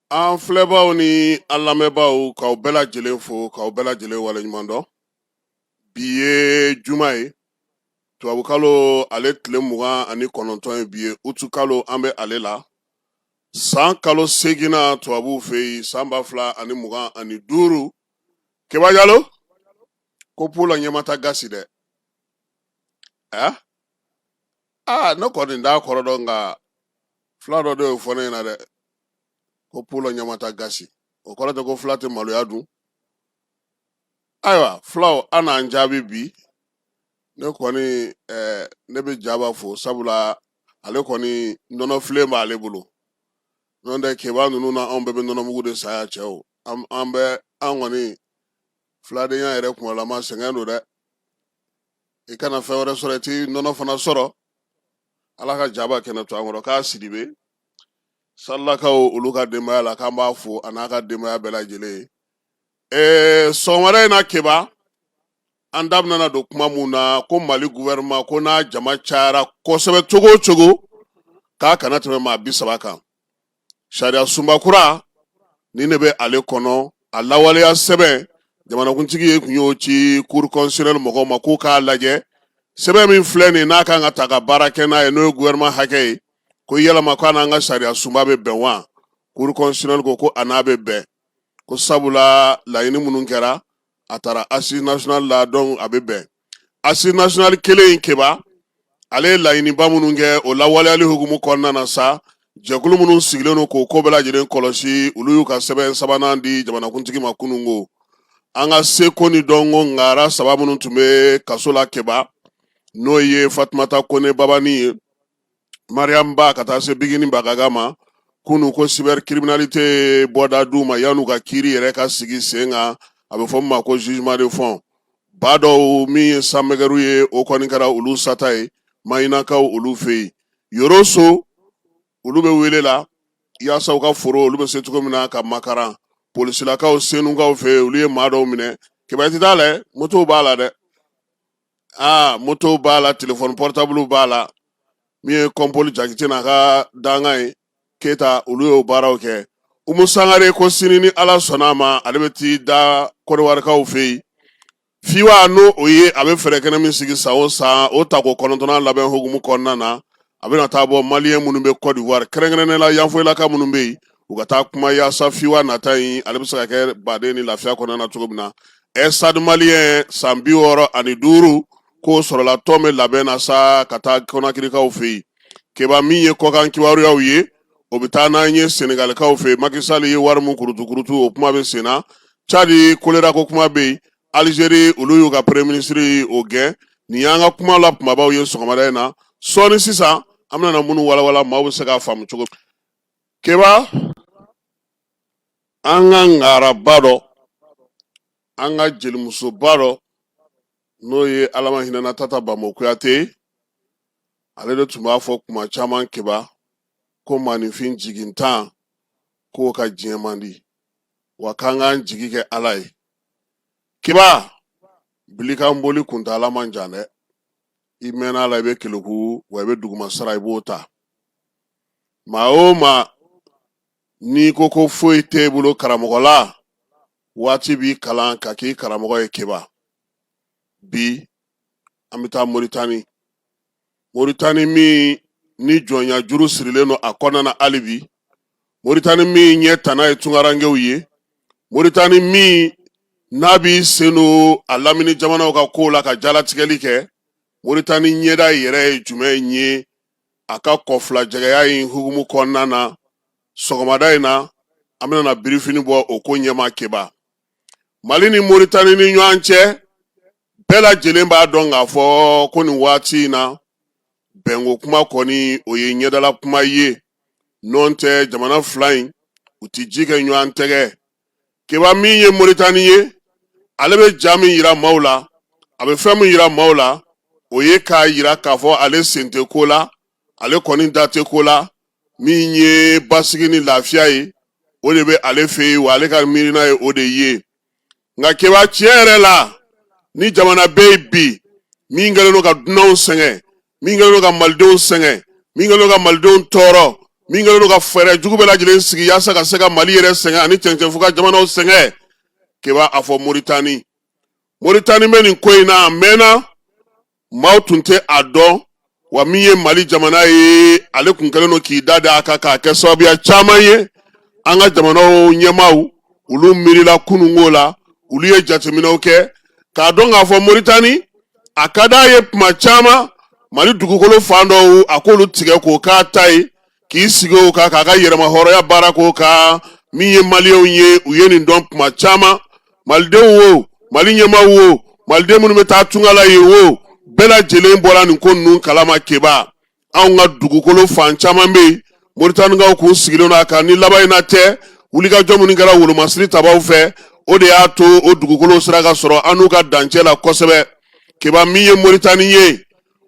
An filɛbaaw ni an lamɛnbaaw k'aw bɛɛ lajɛlen fo k'aw bɛɛ lajɛlen waleɲuman dɔn bi ye juma ye tubabukalo ale tile mugan ani kɔnɔntɔn ye bi ye utukalo an bɛ ale la san kalo seginnan tubabuw fɛ yen san ba fila ani mugan ani duuru keba jalo ko pulo ɲamata gasi dɛ eh? ah ne kɔni t'a kɔrɔ dɔn nka fila dɔ de y'o fɔ ne ɲɛna dɛ ko pulo ɲamata gasi o kɔrɔ tɛ ko fila tɛ maloya dun ayiwa fulaw a n'an jaabi bi ne kɔni eh, ne bɛ jaba fo sabula ale kɔni nɔnɔ filen b'ale bolo nɔntɛ keba ninnu na anw bɛɛ bɛ nɔnɔmugu de saya cɛw an bɛ an kɔni filadenya yɛrɛ kumalama sɛgɛn don dɛ i kana fɛn wɛrɛ sɔrɔ i tɛ nɔnɔ fana sɔrɔ ala ka jaba kɛnɛ to an kɔrɔ k'a sidibe salakaw olu ka denbaya la k'an b'a fo a n'a ka denbaya bɛɛ lajɛlen ye ɛɛ sɔgɔmada in na keba an da bɛna don kuma min na ko mali gouvernement ko n'a jama cayara kosɛbɛ cogo o cogo k'a kana tɛmɛ maa bi saba kan sariya sunba kura ni ne bɛ ale kɔnɔ a lawaleya sɛbɛn jamanakuntigi ye kun y'o ci cour constitutionnelle mɔgɔw ma k'u k'a lajɛ sɛbɛn min filɛ nin n'a kan ka ta ka baara kɛ n'a ye n'o ye gouvernement hakɛ ye ko yalama ko a n'an ka sariya sunba bɛ bɛn wa cour constitutionnelle ko ko a n'a bɛ bɛn ko sabula laɲini minnu kɛra a tara assise nationale la donc a bɛ bɛn assise nationale kelen in keba ale ye laɲiniba minnu kɛ o lawaleyali hukumu kɔnɔna na sa jɛkulu minnu sigilen don k'o ko bɛɛ lajɛlen kɔlɔsi olu y'u ka sɛbɛn sabanan di jamanakuntigi ma kunun ko an ka seko ni dɔnko ngara saba minnu tun bɛ kaso la keba n'o ye fatumata kone babani ye mariam ba ka taa se bigini bagaga ma kunu ko cybercriminalité ye bɔda di u ma yan'u ka kiri yɛrɛ ka sigi sen kan a bɛ fɔ min ma ko jugement de fond ba dɔw min ye sanmɛgɛru ye o kɔni kɛra olu sata ye mayinakaw olu fɛ yen yɔrɔso olu bɛ wele la yaasa u ka foro olu bɛ se cogo min na ka makaran polisilakaw senukaw fɛ olu ye maa dɔw minɛ keba i t'i ta lajɛ motow b'a la dɛ aa moto b'a la telefɔni pɔrɔtabulu b'a la min ye kɔnpoli jakite n'a ka dankan ye keyita olu y'o baaraw kɛ umu sangare ko sini ni ala sɔnna a ma ale bɛ t'i da kɔrɔwarikaw fɛ yen fiwa n'o o ye a bɛ fɛrɛ kɛnɛ min sigi san o san o tako kɔnɔntɔnnan labɛn hukumu kɔnɔna na a bɛna taa bɔ maliyɛn minnu bɛ Côte d'Ivoire kɛrɛnkɛrɛnnen la yanfoyilaka minnu bɛ yen u ka taa kuma yaasa fiwa nata in ale bɛ se ka kɛ baden ni lafiya kɔnɔna na cogo min na Stade maliyɛn san bi wɔɔrɔ ani duuru k'o sɔrɔla tɔn bɛ labɛn na sa ka taa kɔnakirikaw fɛ yen keba min ye kɔkan kibaruyaw ye o bɛ taa n'an ye senegalikaw fɛ Macky Sall ye wari min kurutukurutu o kuma bɛ sen na Tchad kolera ko kuma bɛ yen Alizeri olu y'u ka premier ministre o gɛn nin y'an ka kuma la kunbabaw ye sɔgɔmada in na sɔɔni sisan an bɛna minnu walawala maaw bɛ se k'a faamu cogo keba an ka ngaraba dɔ an ka jelimusoba dɔ n'o ye ala ma hinɛna tata bambo kuyate ale de tun b'a fɔ kuma caman keba ko maaninfin jigintan k'o ka diɲɛ man di wa k'an k'an jigi kɛ ala ye keba bili kan boli kuntaala man jan dɛ i mɛnna a la i bɛ keleku wa i bɛ duguma sara i b'o ta maa o maa n'i ko ko foyi tɛ i bolo karamɔgɔ la waati b'i kalan ka k'i karamɔgɔ ye keba bi an bɛ taa moritani moritani min ni jɔnya juru sirilen don a kɔnɔna na hali bi moritani min ɲɛ tana ye tunkarankew ye moritani min n'a b'i sen don a lamini jamanaw ka kow la ka jalatigɛli kɛ moritani ɲɛda yɛrɛ ye jumɛn ye a ka kɔfilajɛgɛya in hukumu kɔnɔna na sɔgɔmada in na an bɛna birifini bɔ o ko ɲɛma keba mali ni moritani ni ɲɔgɔn cɛ bɛɛ lajɛlen b'a dɔn k'a fɔ ko nin waati in na bɛnko kuma kɔni o ye ɲɛdala kuma ye nɔntɛ jamana fila in u tɛ ji kɛ ɲɔgɔn tɛgɛ keba min ye moritani ye ale bɛ ja min yira maaw la a bɛ fɛn min yira maaw la o ye k'a yira k'a fɔ ale sen tɛ ko la ale kɔni da tɛ ko la min ye basigi ni lafiya ye o de bɛ ale fɛ yen wa ale ka miirina ye o de ye nka keba tiɲɛ yɛrɛ la ni jamana bɛ yen bi min kɛlen don ka dunanw sɛgɛn min kɛlen don ka malidenw sɛgɛn min kɛlen don ka malidenw tɔɔrɔ min kɛlen don ka fɛɛrɛ jugu bɛɛ lajɛlen sigi yaasa ka se ka mali yɛrɛ sɛgɛn ani cɛncɛnfuga jamanaw sɛgɛn keba a fɔ moritani moritani bɛ nin ko in na a mɛnna maaw tun tɛ a dɔn wa min ye mali jamana ye ale tun kɛlen don k'i da da a kan k'a kɛ sababuya caman ye an ka jamanaw ɲɛmaaw olu miirila kununko la olu ye jateminɛw kɛ k'a dɔn k'a fɔ moritani a ka d'a ye tuma caman mali dugukolo fan dɔw a k'olu tigɛ k'o k'a ta ye k'i sigi o kan k'a ka yɛrɛmahɔrɔnya baara k'o kan min ye maliyɛnw ye u ye nin dɔn tuma caman malidenw wo mali ɲɛmaw wo maliden minnu bɛ taa tunga la ye wo bɛɛ lajɛlen bɔra nin ko ninnu kalama keba anw ka dugukolo fan caman bɛ yen moritanikaw kun sigilen don a kan ni laban in na tɛ wulikajɔ minnu kɛra wolomasiri tabaw fɛ o de y'a to o dugukolo sera ka sɔrɔ an n'u ka dancɛ la kosɛbɛ keba min ye moritani ye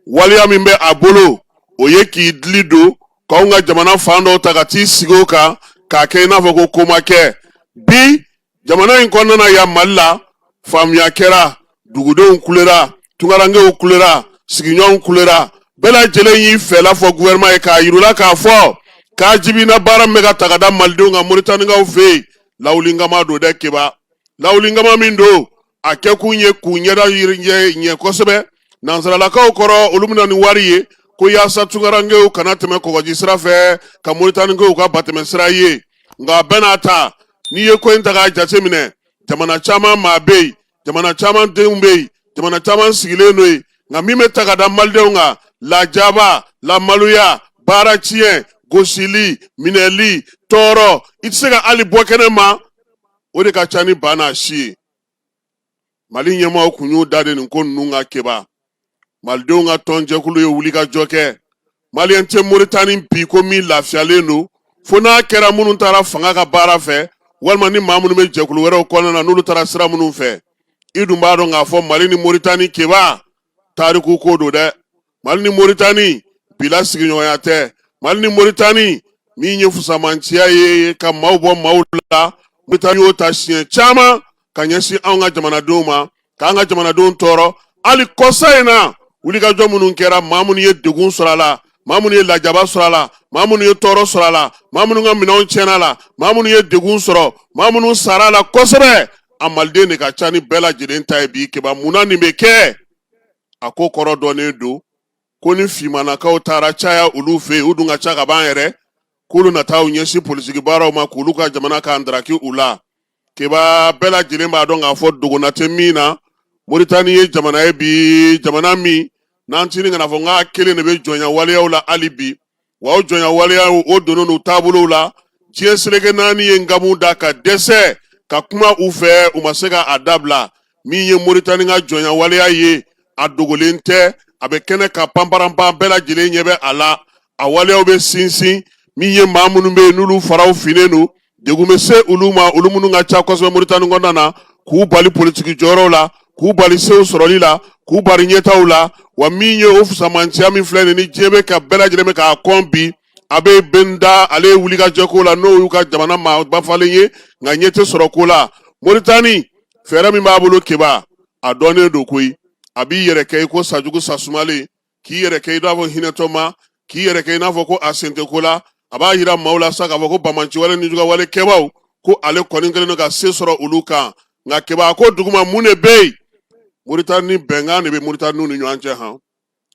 waleya min bɛ a bolo o ye k'i dili don k'anw ka jamana fan dɔw ta ka t'i sigi o kan k'a kɛ i n'a fɔ ko ko ma kɛ bi jamana in kɔnɔna na yan mali la faamuya kɛra dugudenw kulera tunkarankew kulera sigiɲɔgɔnw kulera bɛɛ lajɛlen y'i fɛla fɔ guvɛrɛnman ye k'a yir'u la k'a fɔ k'a jibina baara min bɛ ka ta ka da malidenw kan moritanikaw fɛ yen lawulinkama don dɛ keba lawulinkama min don a kɛkun ye k'u ɲɛda ɲɛ kosɛbɛ nansaralakaw kɔrɔ olu bɛ na ni wari ye ko yaasa tunkarankew kana tɛmɛ kɔgɔji sira fɛ ka moritani kɛ u ka batɛmɛ sira ye nka a bɛɛ n'a ta n'i ye ko in ta k'a jateminɛ jamana caman maa bɛ yen jamana caman denw bɛ yen jamana caman sigilen don yen nka min bɛ ta ka da malidenw kan lajaba lamaloya baara tiɲɛ gosili minɛli tɔɔrɔ i tɛ se ka hali bɔ kɛnɛ ma o de ka ca ni ba n'a si ye mali ɲɛmɔgɔw kun y'u da de nin ko ninnu kan keba malidenw ka tɔnjɛkulu ye wulikajɔ kɛ maliyɛn tɛ moritani bi ko min lafiyalen don fo n'a kɛra minnu taara fanga ka baara fɛ walima ni maa minnu bɛ jɛkulu wɛrɛw kɔnɔna na n'olu taara sira minnu fɛ i dun b'a dɔn k'a fɔ mali ni moritani keba tariku ko don dɛ mali ni moritani bi la sigiɲɔgɔnya tɛ mali ni moritani min ye fusamanciya ye ka maaw bɔ maaw la moritani y'o ta siɲɛ caman ka ɲɛsin anw ka jamanadenw ma k'an ka jamanadenw tɔɔrɔ hali kɔsa in na wulikajɔ minnu kɛra maa minnu ye degun sɔrɔ a la maa minnu ye lajaba sɔrɔ a la maa minnu ye tɔɔrɔ sɔrɔ a la maa minnu ka minɛnw tiɲɛna a la maa minnu ye degun sɔrɔ maa minnu sara a la kosɛbɛ a maliden de ka ca ni bɛɛ lajɛlen ta ye bi keba mun na nin bɛ kɛ a ko kɔrɔ dɔnnen don ko ni fimanakaw taara caya olu fɛ yen u dun ka ca ka ban yɛrɛ k'olu na taa u ɲɛsin politiki baaraw ma k'olu ka jamana ka ndaraki u la keba bɛɛ lajɛlen b'a dɔn k'a fɔ dogona tɛ min na moritani ye jamana ye bi jamana min n'an tini kana fɔ n k'a kelen de bɛ jɔnya waleyaw la hali bi wa o jɔnya waleya o donnen don u taabolow la diɲɛ seleke naani ye nkamu da ka dɛsɛ ka kuma u fɛ u ma se ka a dabila min ye moritani ka jɔnya waleya ye a dogolen tɛ a bɛ kɛnɛ kan panparanpan bɛɛ lajɛlen ɲɛ bɛ a la a waleyaw bɛ sinsin min ye maa minnu bɛ yen n'olu faraw finnen don degun bɛ se olu ma olu minnu ka ca kosɛbɛ Moritani kɔnɔna na k'u bali politiki jɔyɔrɔw la k'u bali sew sɔrɔli la k'u bali ɲɛtaaw la wa min ye o fusamanciya min filɛ nin ni diɲɛ bɛ ka bɛɛ lajɛlen bɛ k'a kɔn bi a bɛ bɛnda ale ye wulikajɔ ko la n'o y'u ka jamana maaba falen ye nka ɲɛ tɛ sɔrɔ ko la Moritani fɛɛrɛ min b'a bolo keba a dɔnnen don koyi a b'i yɛrɛ kɛ i ko sajugu sasumalen k'i yɛrɛ kɛ i n'a fɔ hinɛtɔma k'i yɛrɛ kɛ i n'a fɔ ko a sen tɛ ko la a b'a yira maaw la sa k'a fɔ ko banbaanci wale ni juguyawale kɛbaaw ko ale kɔni kɛlen don ka se sɔrɔ olu kan nka keba ko duguma mun de bɛ yen moritani bɛnkan de bɛ moritaniw ni ɲɔgɔn cɛ han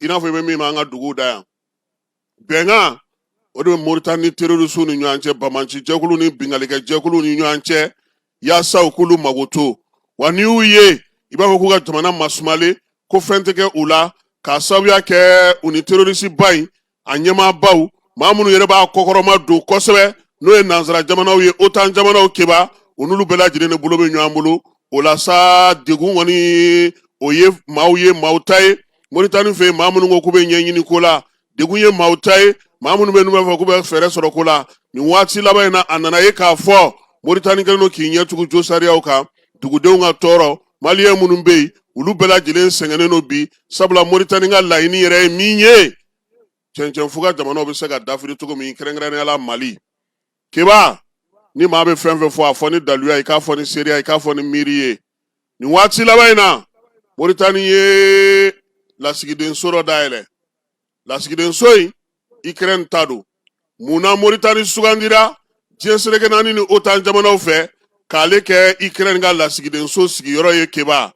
i n'a fɔ i bɛ min ma an ka duguw da yan bɛnkan o de bɛ moritani ni terorisiw ni ɲɔgɔn cɛ banbaanci jɛkulu ni binkannikɛ jɛkulu ni ɲɔgɔn cɛ yaasa u k'olu mago to wa n'i y'u ye i b'a fɔ k'u ka jamana masumalen ko fɛn tɛ kɛ u la k'a sababuya kɛ u ni terorisiba in a ɲɛmaabaw maa minnu yɛrɛ b'a kɔkɔrɔmadon kosɛbɛ n'o ye nansara jamanaw ye otan jamanaw keba u n'olu bɛɛ lajɛlen de bolo bɛ ɲɔgɔn bolo o la sa degun kɔni o ye maaw ye maaw ta ye moritani fɛ yen maa minnu ko k'u bɛ ɲɛɲini ko la degun ye maaw ta ye maa minnu bɛ n'u b'a fɔ k'u bɛ fɛɛrɛ sɔrɔ ko la nin waati laban in na a nana ye k'a fɔ moritani kɛlen don k'i ɲɛ tugu josariyaw kan dugudenw ka tɔɔrɔ maliyɛn minnu bɛ yen olu bɛɛ lajɛlen sɛgɛnnen don bi sabula moritani ka laɲini yɛrɛ ye min ye cɛncɛnfuga jamanaw bɛ se ka dafiri cogo min kɛrɛnkɛrɛnnenya la mali keba ni maa bɛ fɛn fɛn fɔ a fɔ ni daluya i k'a fɔ ni seereya i k'a fɔ ni miiri ye nin waati laban in na moritani ye lasigidenso dɔ dayɛlɛ lasigidenso in ikirɛni ta don mun na moritani sugandira diɲɛ seleke naani ni otan jamanaw fɛ k'ale kɛ ikirɛni ka lasigidenso sigiyɔrɔ ye keba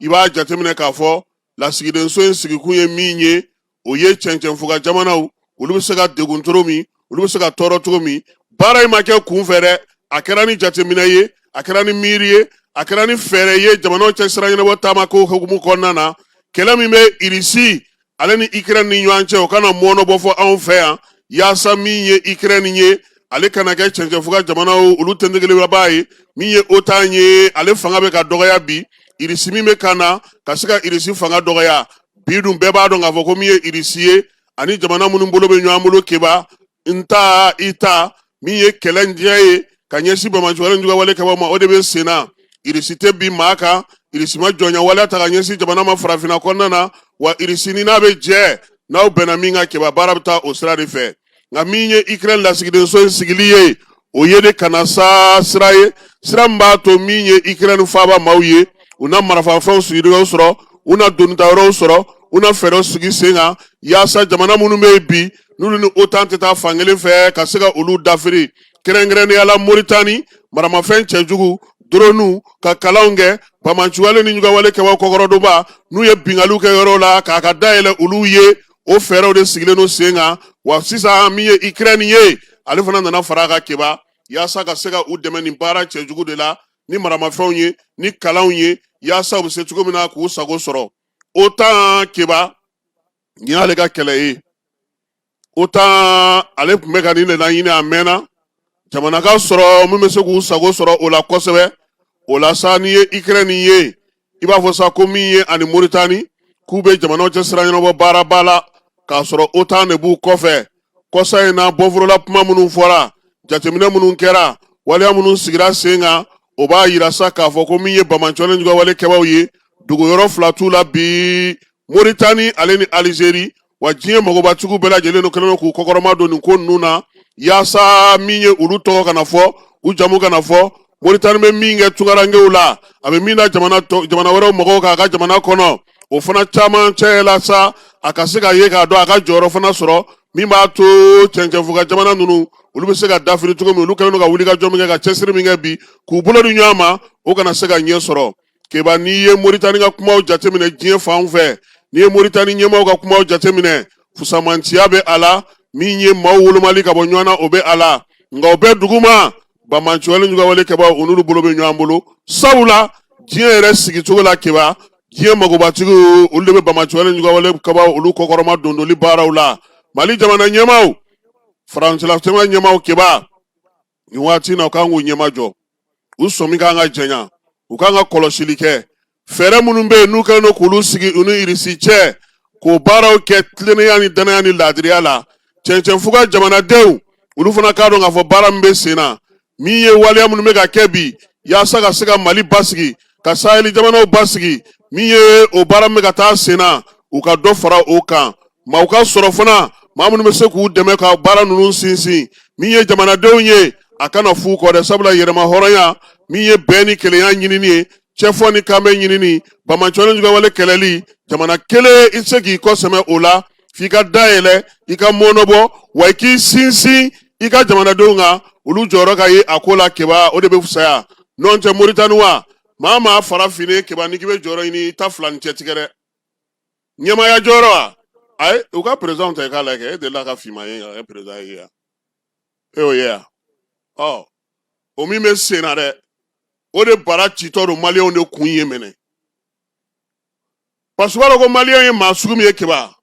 i b'a jateminɛ k'a fɔ lasigidenso in sigikun ye min ye o ye cɛncɛnfuga jamanaw olu bɛ se ka degun cogo min olu bɛ se ka tɔɔrɔ cogo min baara in ma kɛ kunfɛ dɛ a kɛra ni jateminɛ ye a kɛra ni miiri ye a kɛra ni fɛɛrɛ ye jamanaw cɛ sira ɲɛnabɔ taama ko hukumu kɔnɔna na kɛlɛ min bɛ irisi ale ni ikirɛni ni ɲɔgɔn cɛ o kana mɔɔnɔ bɔ fɔ anw fɛ yan yaasa min ye ikirɛni ye ale kana kɛ cɛncɛnfuga jamanaw olu tɛntegelebaa ye min ye otan ye ale fanga bɛ ka dɔgɔya bi irisi min bɛ ka na ka se ka irisi fanga dɔgɔya bi dun bɛɛ b'a dɔn k'a fɔ ko min ye irisi ye ani jamana minnu bolo bɛ ɲɔgɔn bolo keba n ta i ta min ye kɛlɛ diɲɛ ye ka ɲɛsin banbaanci wale ni juguyawale kɛbaaw ma o de bɛ senna irisi tɛ bin maa kan irisi ma jɔnya waleya ta ka ɲɛsin jamana ma farafinna kɔnɔna na wa irisi ni n'aw bɛ jɛ n'aw bɛnna min kan keba baara bɛ taa o sira de fɛ nka min ye ikirɛni lasigidenso in sigili ye o ye de ka na sa sira ye sira min b'a to min ye ikirɛni faaba maaw ye u na marafafɛnw sigiyɔrɔw sɔrɔ u na donita yɔrɔw sɔrɔ u na fɛɛrɛw sigi sen kan yaasa jamana minnu bɛ yen bi n'olu ni otan tɛ taa fankelen fɛ ka se ka olu dafiri kɛrɛnkɛrɛnnenya la moritani maramafɛn cɛjugu doroniw ka kalanw kɛ banbaanciwale ni juguwale kɛbaw kɔkɔrɔdonbaw n'u ye binkaliw kɛ yɔrɔw la k'a ka dayɛlɛ olu ye o fɛɛrɛw de sigilen don sen kan wa sisan min ye ikirɛni ye ale fana nana fara a kan keba yaasa ka se ka u dɛmɛ nin baara cɛjugu de la ni maramafɛnw ye ni kalanw ye yaasa u bɛ se cogo min na k'u sago sɔrɔ otan keba nin y'ale ka kɛlɛ ye otan ale tun bɛ ka nin de laɲini a mɛnna jamana ka sɔrɔ min bɛ se k'u sago sɔrɔ o la kosɛbɛ o la sa n'i ye ikirɛni ye i b'a fɔ sa ko min ye ani moritani k'u bɛ jamanaw cɛ sira ɲɛnabɔ baaraba la k'a sɔrɔ otan de b'u kɔfɛ kɔsa in na bɔforola kuma minnu fɔra jateminɛ minnu kɛra waleya minnu sigira sen kan o b'a yira sa k'a fɔ ko min ye banbaanciwale ni juguwale kɛbaw ye dogoyɔrɔ fila t'u la bi moritani ale ni alizeri wa diɲɛ magobatigiw bɛɛ lajɛlen kɛlen don k'u kɔkɔrɔma don nin ko ninnu na yaasa min ye olu tɔgɔ kana fɔ u jamu kana fɔ moritani bɛ min kɛ tungarankew la a bɛ min na jamana wɛrɛw mɔgɔw k'a ka jamana kɔnɔ o fana caman cɛ la sa a ka se ka ye k'a dɔn a ka jɔyɔrɔ fana sɔrɔ min b'a to cɛncɛnfuga jamana ninnu olu bɛ se ka dafiri cogo min olu kɛlen don ka wulikajɔ min kɛ ka cɛsiri min kɛ bi k'u bolo di ɲɔgɔn ma o kana se ka ɲɛ sɔrɔ keba n'i ye moritani ka kumaw jateminɛ diɲɛ fan fɛ n'i ye moritani ɲɛmaaw ka kumaw jateminɛ fusamanciya bɛ a la min ye maaw wolomali ka bɔ ɲɔgɔn na o bɛ a la nka o bɛɛ duguma banbaanciwale juguwale kɛbaw u n'olu bolo bɛ ɲɔgɔn bolo sabula diɲɛ yɛrɛ sigicogo la keba diɲɛ magobatigiw olu de bɛ banbaanciwale juguwale kɛbaw olu kɔkɔrɔma dondoli baaraw la mali jamana ɲɛmaaw farafinna jamana ɲɛmaaw keba nin waati in na u kan k'u ɲɛmajɔ u sɔmi kan ka janya u kan ka kɔlɔsili kɛ fɛɛrɛ minnu bɛ yen n'u kɛlen don k'olu sigi u ni irisi cɛ k'o baaraw kɛ tilennenya ni dannaya ni laadiriya la cɛncɛnfuga jamanadenw olu fana k'a dɔn k'a fɔ baara min bɛ sen na min ye waleya minnu bɛ ka kɛ bi yaasa ka se ka mali basigi ka saheli jamanaw basigi min ye o baara min bɛ ka taa sen na u ka dɔ fara o kan maa u ka sɔrɔ fana maa minnu bɛ se k'u dɛmɛ ka baara ninnu sinsin min ye jamanadenw ye a kana f'u kɔ dɛ sabula yɛrɛma hɔrɔnya min ye bɛn ni kelenya ɲinini ye cɛfɔ ni kanbɛn ɲinini banbaanciwale ni juguwale kɛlɛli jamana kelen i tɛ se k'i kɔ sɛmɛ o la f'i ka da yɛlɛ i ka mɔnɔbɔ wa i k'i sinsin i ka jamanadenw kan olu jɔyɔrɔ ka ye a ko la keba o de bɛ fisaya n'o tɛ moritani wa maa maa farafin keba n'i k'i bɛ jɔyɔrɔ ɲini i ta fila ni cɛ tigɛ dɛ ɲɛmaaya jɔyɔrɔ wa ayi u ka perezanw ta i k'a lajɛ e delila ka finma ye ka kɛ perezan ye yan e y'o ye yan ɔ o min bɛ sen na dɛ o de bara citɔ don maliyɛnw de kun ye mɛnɛ parce que u b'a dɔn ko maliyɛn ye maa sugu min ye keba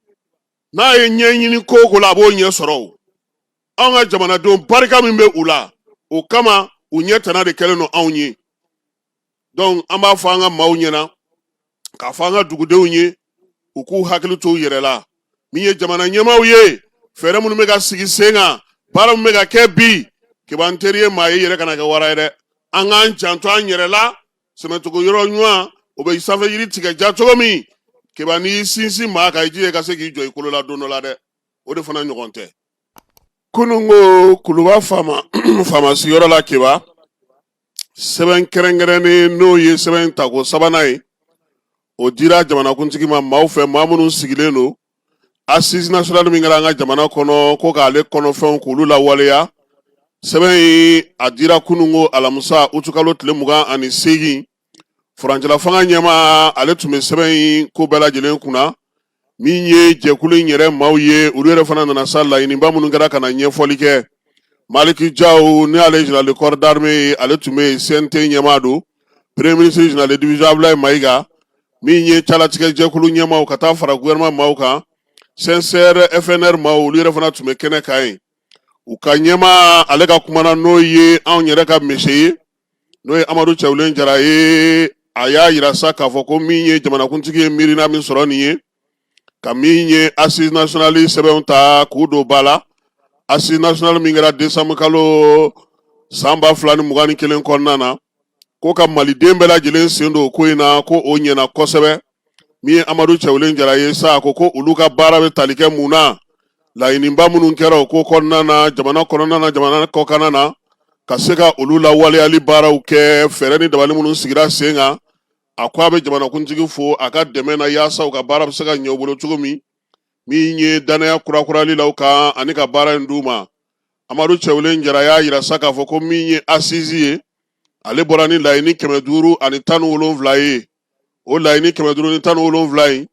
n'a ye ɲɛɲini ko o ko la a b'o ɲɛ sɔrɔ o anw ka jamanadenw barika min bɛ u la o kama u ɲɛ tana de kɛlen don anw ye donc an b'a fɔ an ka maaw ɲɛna k'a fɔ an ka dugudenw ye u k'u hakili to u yɛrɛ la min ye jamana ɲɛmaaw ye fɛɛrɛ minnu bɛ ka sigi sen kan baara min bɛ ka kɛ bi keba n teri ye maa ye i yɛrɛ kana kɛ wara ye dɛ an k'an janto an yɛrɛ la sɛmɛcogo yɔrɔ ɲuman o bɛ sanfɛ yiri tigɛ ja cogo min keba n'i sinsin maa kan i jija i ka se k'i jɔ i kolo la don dɔ la dɛ o de fana ɲɔgɔn tɛ kunun ko kuluba faama sigiyɔrɔ la keba sɛbɛn kɛrɛnkɛrɛnnen n'o ye sɛbɛn tako sabanan ye o dira jamanakuntigi ma maaw fɛ maa minnu sigilen don assise nationale min kɛra an ka jamana kɔnɔ ko k'ale kɔnɔfɛnw k'olu lawaleya sɛbɛn in a dira kunun ko alamisa utukalo tile mugan ani seegin furancɛla fanga ɲɛmaa ale tun bɛ sɛbɛn in ko bɛɛ lajɛlen kunna min ye jɛkulu in yɛrɛ maaw ye olu yɛrɛ fana nana sa laɲiniba minnu kɛra ka na ɲɛfɔli kɛ maliki jaw n'ale général de corps d'armée ye ale tun bɛ CNT ɲɛmaa don premier ministre général de division Abdoulaye Maïga min ye calatigɛ jɛkulu ɲɛmaaw ka taa fara gouvernement maaw kan CINSERE FNR maaw olu yɛrɛ fana tun bɛ kɛnɛ kan yen u ka ɲɛmaa ale ka kuma na n'o ye anw yɛrɛ ka mese ye n'o ye Amadu Cɛwulen Jara ye a y'a jira sa k'a fɔ ko min ye jamanakuntigi ye miirina min sɔrɔ nin ye ka min ye assise nationale sɛbɛnw ta k'u don ba la assise nationale min kɛra desanburu kalo san ba fila ni mugan ni kelen kɔnɔna na ko ka maliden bɛɛ lajɛlen sen don ko in na ko o ɲɛna kosɛbɛ min ye amadu cɛwlen jara ye sa ko ko olu ka baara bɛ tali kɛ mun na laɲiniba minnu kɛra o ko kɔnɔna na jamana kɔnɔna na jamana kɔkanna na ka se ka olu lawaleyali baaraw kɛ fɛɛrɛ ni dabali minnu sigira sen kan a ko a bɛ jamanakuntigi fo a ka dɛmɛ na yaasa u ka baara bɛ se ka ɲɛ u bolo cogo min min ye danaya kurakurali la u kan ani ka baara in d'u ma amadu cɛwlen jara y'a jira sa k'a fɔ ko min ye assise ye ale bɔra ni laɲini kɛmɛ duuru ani tan ni wolonwula ye o laɲini kɛmɛ duuru ni tan ni wolonwula in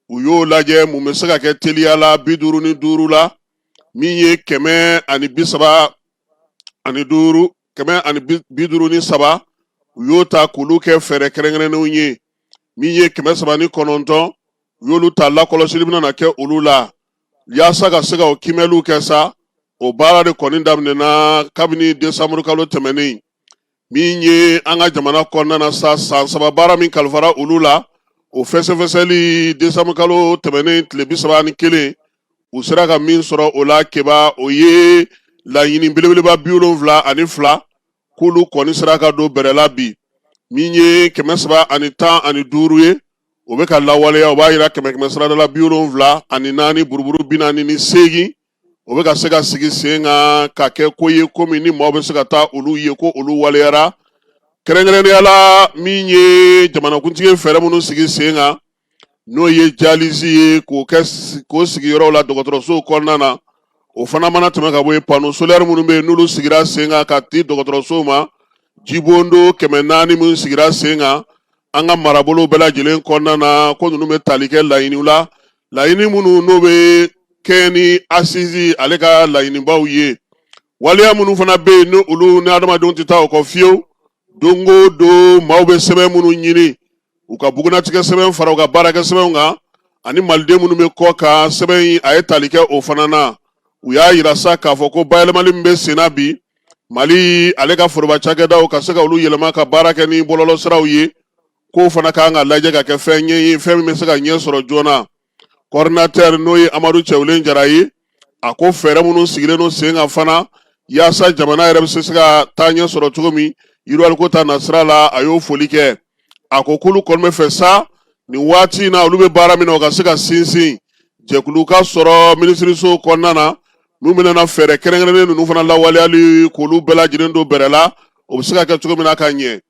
u y'o lajɛ mun bɛ se ka kɛ teliya la bi duuru ni duuru la min ye kɛmɛ ani bi saba ani duuru kɛmɛ ani bi duuru ni saba u y'o ta k'olu kɛ fɛɛrɛ kɛrɛnkɛrɛnnenw ye min ye kɛmɛ saba ni kɔnɔntɔn u y'olu ta lakɔlɔsili bɛna na kɛ olu la yaasa ka se ka o kiimɛliw kɛ sa o baara de kɔni daminɛna kabini desanburu kalo tɛmɛnen min ye an ka jamana kɔnɔna na sa san saba baara min kalifara olu la o fɛsɛfɛsɛli desanburu kalo tɛmɛnen tile bi saba ni kelen u sera ka min sɔrɔ o la keba o ye laɲini belebeleba bi wolonwula ani fila k'olu kɔni sera ka don bɛrɛ la bi min ye kɛmɛ saba ani tan ani duuru ye o bɛ ka lawaleya o b'a jira kɛmɛ kɛmɛ sarada la bi wolonwula ani naani buruburu bi naani ni seegin o bɛ ka se ka sigi sen kan ka kɛ ko ye ko min ni maaw bɛ se ka taa olu ye ko olu waleyara kɛrɛnkɛrɛnnenya la min ye jamanakuntigi fɛɛrɛ minnu sigi sen kan n'o ye jalizi ye k'o sigiyɔrɔw la dɔgɔtɔrɔsow kɔnɔna na o fana mana tɛmɛ ka bɔ yen pano solɛri minnu bɛ yen n'olu sigira sen kan ka di dɔgɔtɔrɔsow ma jibondo kɛmɛ naani minnu sigira sen kan an ka marabolo bɛɛ lajɛlen kɔnɔna na ko ninnu bɛ tali kɛ laɲiniw la laɲini minnu n'o bɛ kɛ ni asizi ale ka laɲinibaw ye waleya minnu fana bɛ yen ni olu ni adamadenw tɛ taa o kɔ fiyewu don o don maaw bɛ sɛbɛn minnu ɲini u ka bugunnatigɛ sɛbɛn fara u ka baarakɛ sɛbɛnw kan ani maliden minnu bɛ kɔkan sɛbɛn in a ye tali kɛ o fana na u y'a jira sa k'a fɔ ko bayɛlɛmali min bɛ senna bi mali ale ka foroba cakɛdaw ka se ka olu yɛlɛma ka baara kɛ ni bɔlɔlɔsiraw ye k'o fana ka kan ka lajɛ ka kɛ fɛn ɲɛ ye fɛn min bɛ se ka ɲɛ sɔrɔ joona kɔridinatɛri n'o ye amadu cɛwlen jara ye a ko fɛɛrɛ minnu sigilen don sen kan fana yaasa jamana yɛrɛ bɛ se ka taa ɲɛ sɔrɔ cogo min yiriwaliko ta nasira la a y'o foli kɛ a ko k'olu kɔni bɛ fɛ sa nin waati in na olu bɛ baara min na o ka se ka sinsin jɛkulu ka sɔrɔ minisiriso kɔnɔna na n'u bɛna fɛɛrɛ kɛrɛnkɛrɛnnen ninnu fana lawaleyali k'olu bɛɛ lajɛlen don bɛrɛ la o bɛ se ka kɛ cogo min na ka ɲɛ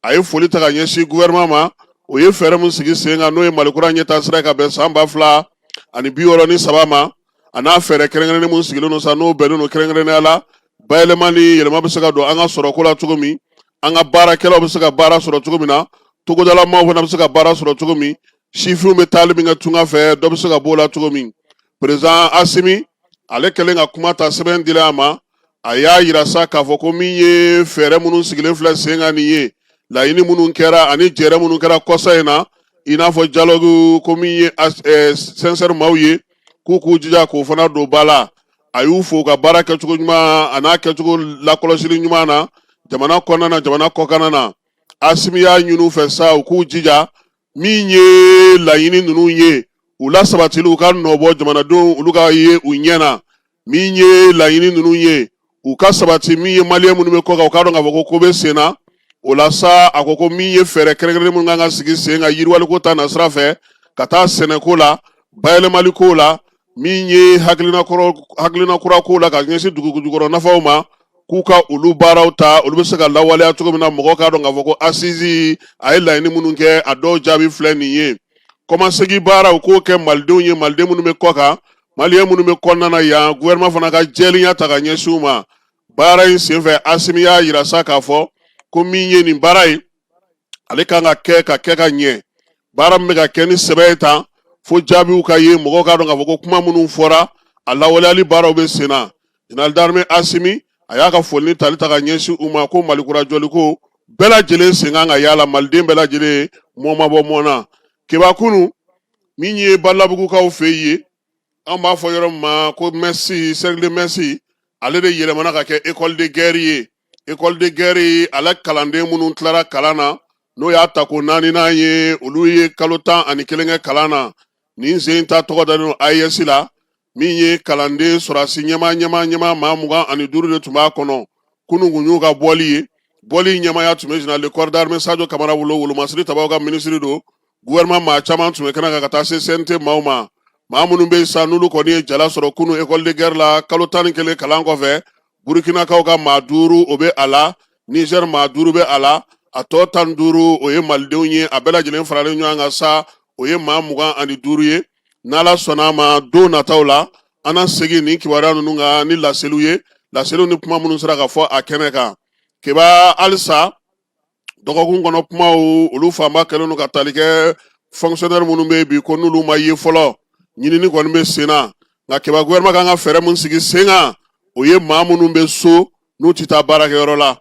a ye foli ta ka ɲɛsin gofɛrɛnaman ma o ye fɛɛrɛ min sigi sen kan n'o ye mali kura ɲɛtaasira ka bɛn san ba fila ani bi wɔɔrɔ ni saba ma a n'a fɛɛrɛ kɛrɛnkɛrɛnnen min sigilen don sa n'o bɛnnen don kɛrɛnkɛrɛnnenya la bayɛlɛma ni yɛlɛma bɛ se ka don an ka sɔrɔko la cogo min an ka baarakɛlaw bɛ se ka baara sɔrɔ cogo min na togodalamaw fana bɛ se ka baara sɔrɔ cogo min sifinw bɛ taali min kɛ tunga fɛ dɔ bɛ se ka b'o la cogo min perezidan asimi ale kɛlen ka kuma ta sɛbɛn dilen a ma a y'a jira sa k'a fɔ ko min ye fɛɛrɛ minnu sigilen filɛ sen kan nin ye laɲini minnu kɛra ani jɛrɛ minnu kɛra kɔsa in na i n'a fɔ jalɔgu ko min ye sɛnsɛri maaw ye k'u k'u jija k'o fana don ba la a y'u fo u ka baara kɛcogo ɲuman a n'a kɛcogo lakɔlɔsili ɲuman na jamana kɔnɔna na jamana kɔkanna na asimi y'a ɲini u fɛ sa u k'u jija min ye laɲini ninnu ye u lasabatili u ka nɔbɔ jamanadenw olu ka ye u ɲɛ na min ye laɲini ninnu ye u ka sabati min ye maliyɛn minnu bɛ kɔ kan u k'a dɔn k'a fɔ ko ko bɛ sen na o la sa a ko ko min ye fɛɛrɛ kɛrɛnkɛrɛnnen minnu kan ka sigi sen kan yiriwaliko ta nasira fɛ ka taa sɛnɛko la bayɛlɛmaliko la min ye hakilina kura ko la ka ɲɛsin dugujukɔrɔ nafaw ma k'u ka olu baaraw ta olu bɛ se ka lawaleya cogo min na mɔgɔ k'a dɔn k'a fɔ ko assise a ye laɲini minnu kɛ a dɔw jaabi filɛ nin ye kɔmasegin baara u k'o kɛ malidenw ye maliden minnu bɛ kɔ kan maliyɛn minnu bɛ kɔnɔna na yan gouvernement fana ka jɛlenya ta ka ɲɛsin u ma baara in senfɛ asimi y'a yira sa k'a fɔ ko min ye nin baara ye ale kan ka kɛ ka kɛ ka ɲɛ baara min bɛ ka kɛ ni sɛbɛ ye tan fo jaabiw ka ye mɔgɔw k'a dɔn k'a fɔ ko kuma minnu fɔra a lawaleyali baaraw bɛ sen na général d'armée asimi a y'a ka foli ni tali ta ka ɲɛsin u ma ko malikura jɔliko bɛɛ lajɛlen sen kan ka y'a la maliden bɛɛ lajɛlen mɔɔ ma bɔ mɔɔ na keba kunun min ye balabugukaw fɛ ye an b'a fɔ yɔrɔ min ma ko mess cercle de mess ale de yɛlɛmana ka kɛ école de guerre ye école de guerre ale kalanden minnu tilara kalan na n'o y'a tako naaninan ye olu ye kalo tan ani kelen kɛ kalan na nin sen ta tɔgɔ dalen don AES la min ye kalanden sɔrɔdasi ɲɛma ɲɛma ɲɛma maa mugan ani duuru de tun b'a kɔnɔ kunun kun y'u ka bɔli ye bɔli ɲɛmaya tun bɛ général de corps d'armée Sadio Kamara bolo wolomasiri tabaw ka minisiri don gouvernement maa caman tun bɛ kɛnɛ kan ka taa se CNT maaw ma maa minnu bɛ yen sa n'olu kɔni ye jala sɔrɔ kunun école de guerre la kalo tan ni kelen kalan kɔfɛ burukinakaw ka maa duuru o bɛ a la nizɛri maa duuru bɛ a la a tɔ tan duuru o ye malidenw ye a bɛɛ lajɛlen faralen ɲɔgɔn kan sa o ye maa mugan ani duuru ye n'ala sɔnna a ma don nataw la an na segin nin kibaruya ninnu kan ni laseliw ye laseliw ni kuma minnu sera ka fɔ a kɛnɛ kan keba halisa dɔgɔkun kɔnɔ kumaw olu fanba kɛlen don ka tali kɛ fonctionnaire minnu bɛ yen bi ko n'olu ma ye fɔlɔ ɲinini kɔni bɛ sen na nka keba gouvernement kan ka fɛɛrɛ min sigi sen kan o ye maa minnu bɛ so n'u tɛ taa baarakɛyɔrɔ la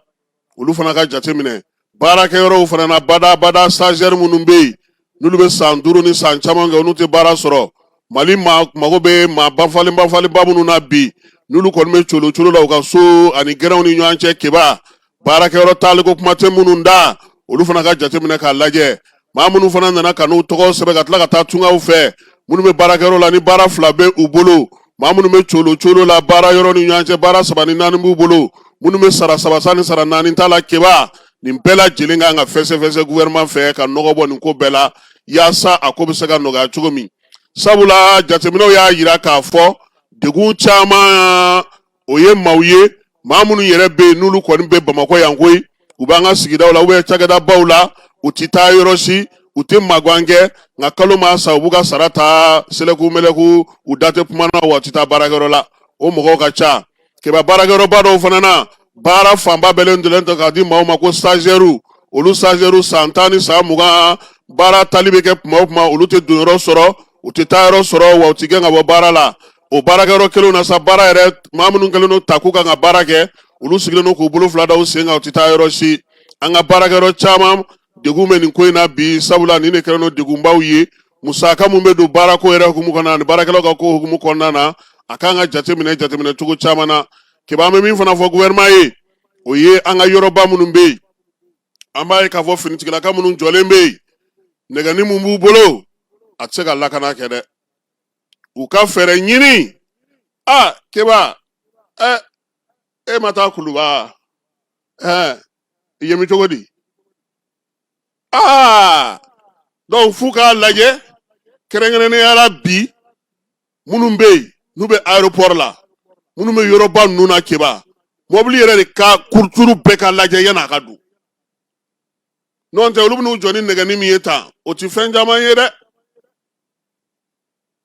olu fana ka jateminɛ baarakɛyɔrɔw fana na badabada stagiaire minnu bɛ yen n'olu bɛ san duuru ni san caman kɛ n'u tɛ baara sɔrɔ mali mago bɛ maa bafalenbafalenba minnu na bi n'olu kɔni bɛ colo colo la u ka so ani gɛrɛnw ni ɲɔgɔn cɛ keba baarakɛyɔrɔ taaliko kuma tɛ minnu da olu fana ka jateminɛ k'a lajɛ maa minnu fana nana ka n'u tɔgɔ sɛbɛn ka tila ka taa tungaw fɛ minnu bɛ baarakɛyɔrɔ la ni baara fila bɛ u bolo maa minnu bɛ colo colo la baara yɔrɔ ni ɲɔgɔn cɛ baara saba ni naani b'u bolo minnu bɛ sara saba ni sara naani ta la keba nin bɛɛ lajɛlen kan ka fɛsɛfɛsɛ gouvernement fɛ ka nɔgɔ bɔ nin ko bɛɛ la yaasa a ko bɛ se ka nɔgɔya cogo min sabula jateminɛw y'a yira k'a fɔ degun caman o ye maaw ye maa minnu yɛrɛ bɛ yen n'olu kɔni bɛ bamakɔ yan koyi u b'an ka sigidaw la ou bien cakɛdabaw la u tɛ taa yɔrɔ si u tɛ magan kɛ nka kalo maa sa u b'u ka sara ta sɛlɛku mɛlɛku u da tɛ kuma na wa u tɛ taa baarakɛyɔrɔ la o mɔgɔw ka ca Kɛba baarakɛyɔrɔba dɔw fana na baara fanba bɛɛlen dɔlen ta k'a di maaw ma ko stagiaires olu stagiaires san tan ni san mugan baara tali bɛ kɛ tuma o tuma olu tɛ donyɔrɔ sɔrɔ u tɛ taayɔrɔ sɔrɔ wa u tɛ gɛn ka bɔ baara la o baarakɛyɔrɔ kelenw na sa baara yɛrɛ maa minnu kɛlen don ta k'u kan ka baara kɛ olu sigilen don k'u bolo fila da u sen kan u tɛ taa yɔrɔ si an ka baarakɛyɔrɔ caman degun bɛ nin ko in na bi sabula nin de kɛlen don degunbaw ye musaka mun bɛ don baarako yɛrɛ hukumu kɔnɔna na ani baarakɛlaw ka ko hukumu kɔnɔna na a kan ka jateminɛ jateminɛ cogo caman na keba an bɛ min fana fɔ gouvernement ye o ye an ka yɔrɔba minnu bɛ yen an b'a ye k'a fɔ finitigilaka minnu jɔlen bɛ yen nɛgɛni mun b'u bolo a tɛ se ka lakana kɛ dɛ u ka fɛɛrɛ ɲini a keba ɛ e ma taa kuluba ɛ i ye mi cogo di aa donc f'u k'a lajɛ kɛrɛnkɛrɛnnenya la bi minnu bɛ yen n'u bɛ aéroport la minnu bɛ yɔrɔba ninnu na Keba mɔbili yɛrɛ de ka kuruturu bɛɛ ka lajɛ yan'a ka don n'o tɛ olu bɛn'u jɔ ni nɛgɛnin min ye tan o tɛ fɛn caman ye dɛ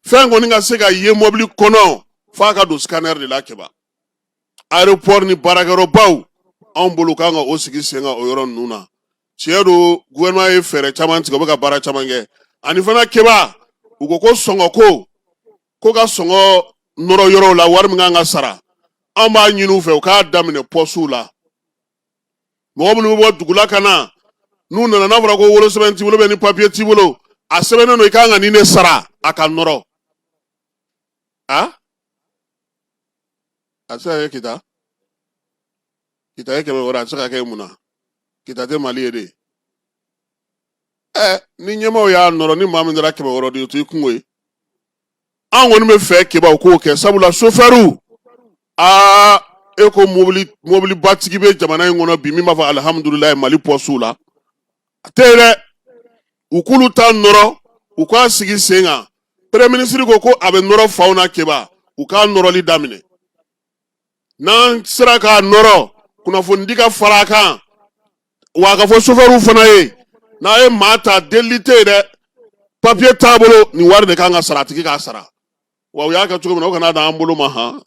fɛn kɔni ka se ka ye mɔbili kɔnɔ f'a ka don scanner de la kɛba aéroport ni baarakɛyɔrɔbaw anw bolo kan ka o sigi sen kan o yɔrɔ ninnu na tiɲɛ don gouvernement ye fɛɛrɛ caman tigɛ u bɛ ka baara caman kɛ ani fana kɛba u ko ko sɔngɔko ko ka sɔngɔ nɔrɔ yɔrɔw la wari min kan ka sara an b'a ɲini u fɛ u k'a daminɛ pɔsiw la mɔgɔ minnu bɛ bɔ dugula ka na n'u nana n'a fɔra ko wolosɛbɛn t'i bolo bɛ ni papiye t'i bolo a sɛbɛnnen don i kan ka nin de sara a ka nɔrɔ a a tɛ se ka kɛ kita kita ye kɛmɛ wɔɔrɔ a tɛ se ka kɛ mun na kita tɛ mali ye de ɛ ni ɲɛmaaw y'a nɔrɔ ni maa min taara kɛmɛ wɔɔrɔ di o t'i kungo ye an kɔni b'a fɛ keba u k'o kɛ sabula sofɛriw aa e ko mobilibatigi bɛ jamana in kɔnɔ bi min b'a fɔ alihamudulilayi mali pɔsiw la a tɛ yen dɛ u k'olu ta nɔrɔ u k'a sigi sen kan premier ministre ko ko a bɛ nɔrɔ faw na keba u k'a nɔrɔli daminɛ n'an sera k'a nɔrɔ kunnafonidi ka fara a kan wa a ka fɔ sofɛriw fana ye n'a ye maa ta delili tɛ yen dɛ papiye t'a bolo nin wari de kan ka sara a tigi k'a sara wa u y'a kɛ cogo min na u kana d'an bolo ma han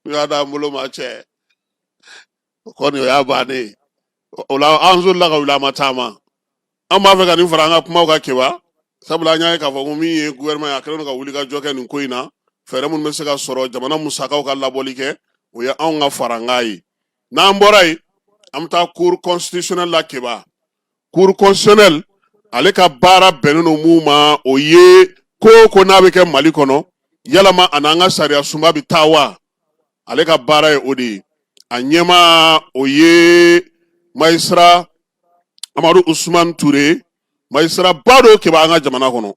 u y'a d'an bolo ma cɛ o kɔni o y'a bannen ye o la an solila ka wuli an ma taama An b'a fɛ ka nin fara an ka kumaw kan keba sabula an y'a ye k'a fɔ ko min ye gouvernement ye a kɛlen don ka wuli ka jɔ kɛ nin ko in na fɛɛrɛ minnu bɛ se ka sɔrɔ jamana musakaw ka labɔli kɛ o ye anw ka farankan ye n'an bɔra yen an bɛ taa cour constitutionnelle la keba cour constitutionnelle ale ka baara bɛnnen don mun ma o ye ko o ko n'a bɛ kɛ mali kɔnɔ yalama a n'an ka sariya sunba bɛ taa wa ale ka baara ye o de ye a ɲɛmaa o ye magistrat amadu usman ture magistrat ba dɔ keba an ka jamana kɔnɔ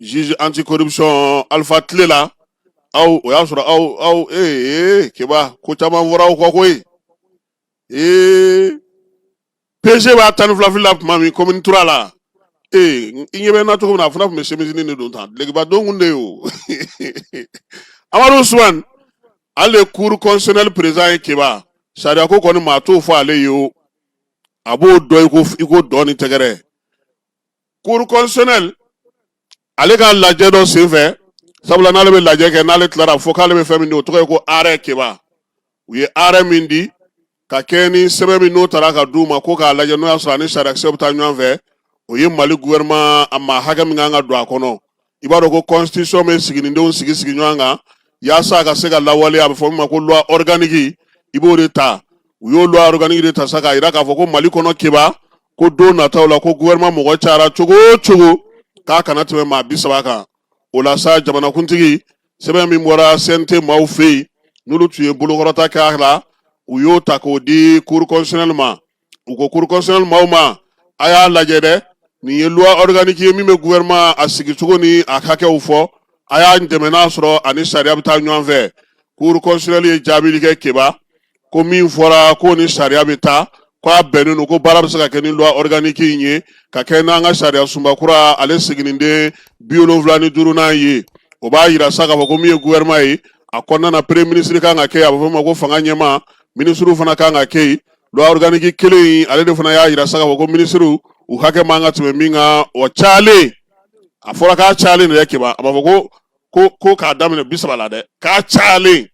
juge anti corruption alpha tile la aw o y'a sɔrɔ aw aw ee keba ko caman fɔra aw kɔ koyi ee pg b'a tan ni fila fili la tuma min commune trois la ee i ɲɛ bɛ n na cogo min na a fana tun bɛ semisinin de don tan dulokiba don kun de ye o amadu usman ale cour constitutionnelle président ye keba sariya ko kɔni maa t'o fɔ ale ye o a b'o dɔn i ko dɔn ni tɛgɛrɛ cour constitutionnelle ale ka lajɛ dɔ senfɛ sabula n'ale bɛ lajɛ kɛ n'ale tilara fo k'ale bɛ fɛn min di o tɔgɔ ye ko arrêt keba u ye arrêt min di ka kɛɲɛ ni sɛbɛn min n'o taara ka d'u ma ko k'a lajɛ n'o y'a sɔrɔ a ni sariyakisɛ bɛ taa ɲɔgɔn fɛ o ye mali gouvernement a maa hakɛ min kan ka don a kɔnɔ i b'a dɔn ko constitution bɛ siginidenw sigi sigi ɲɔgɔn kan yaasa a ka se ka lawaleya a bɛ fɔ min ma ko loi organique i b'o de ta u y'o loi organique de ta sa k'a jira k'a fɔ ko mali kɔnɔ keba ko don nataw la ko gouvernement mɔgɔ cayara cogo o cogo k'a kana tɛmɛ maa bi saba kan o la sa jamanakuntigi sɛbɛn min bɔra cnt maaw fɛ yen n'olu tun ye bolokɔrɔta kɛ a la u y'o ta k'o di cour constitutionnelle ma u ko cour constitutionnelle maaw ma a y'a lajɛ dɛ nin ye loi organique ye min bɛ gouvernement a sigicogo ni a hakɛw fɔ a y'a dɛmɛ n'a sɔrɔ a ni sariya bɛ taa ɲɔgɔn fɛ cour constitutionnelle ye jaabili kɛ keba ko min fɔra ko ni sariya bɛ taa ko a bɛnnen don ko baara bɛ se ka kɛ ni loi organique in ye ka kɛ n'an ka sariya sunba kura ale siginiden bi wolonwula ni duurunan ye o b'a yira sa k'a fɔ ko min ye gouvernement ye a kɔnɔna na premier ministre kan ka kɛ a bɛ fɔ o ma ko fanga ɲɛmaa ministrew fana kan ka kɛ yen loi organique kelen in ale de fana y'a yira sa k'a fɔ ko ministre u hakɛ man ka tɛmɛ min kan o cayalen a fɔra k'a cayalen de dɛ keba a b'a fɔ ko ko ko k'a daminɛ bi saba la dɛ k'a cayalen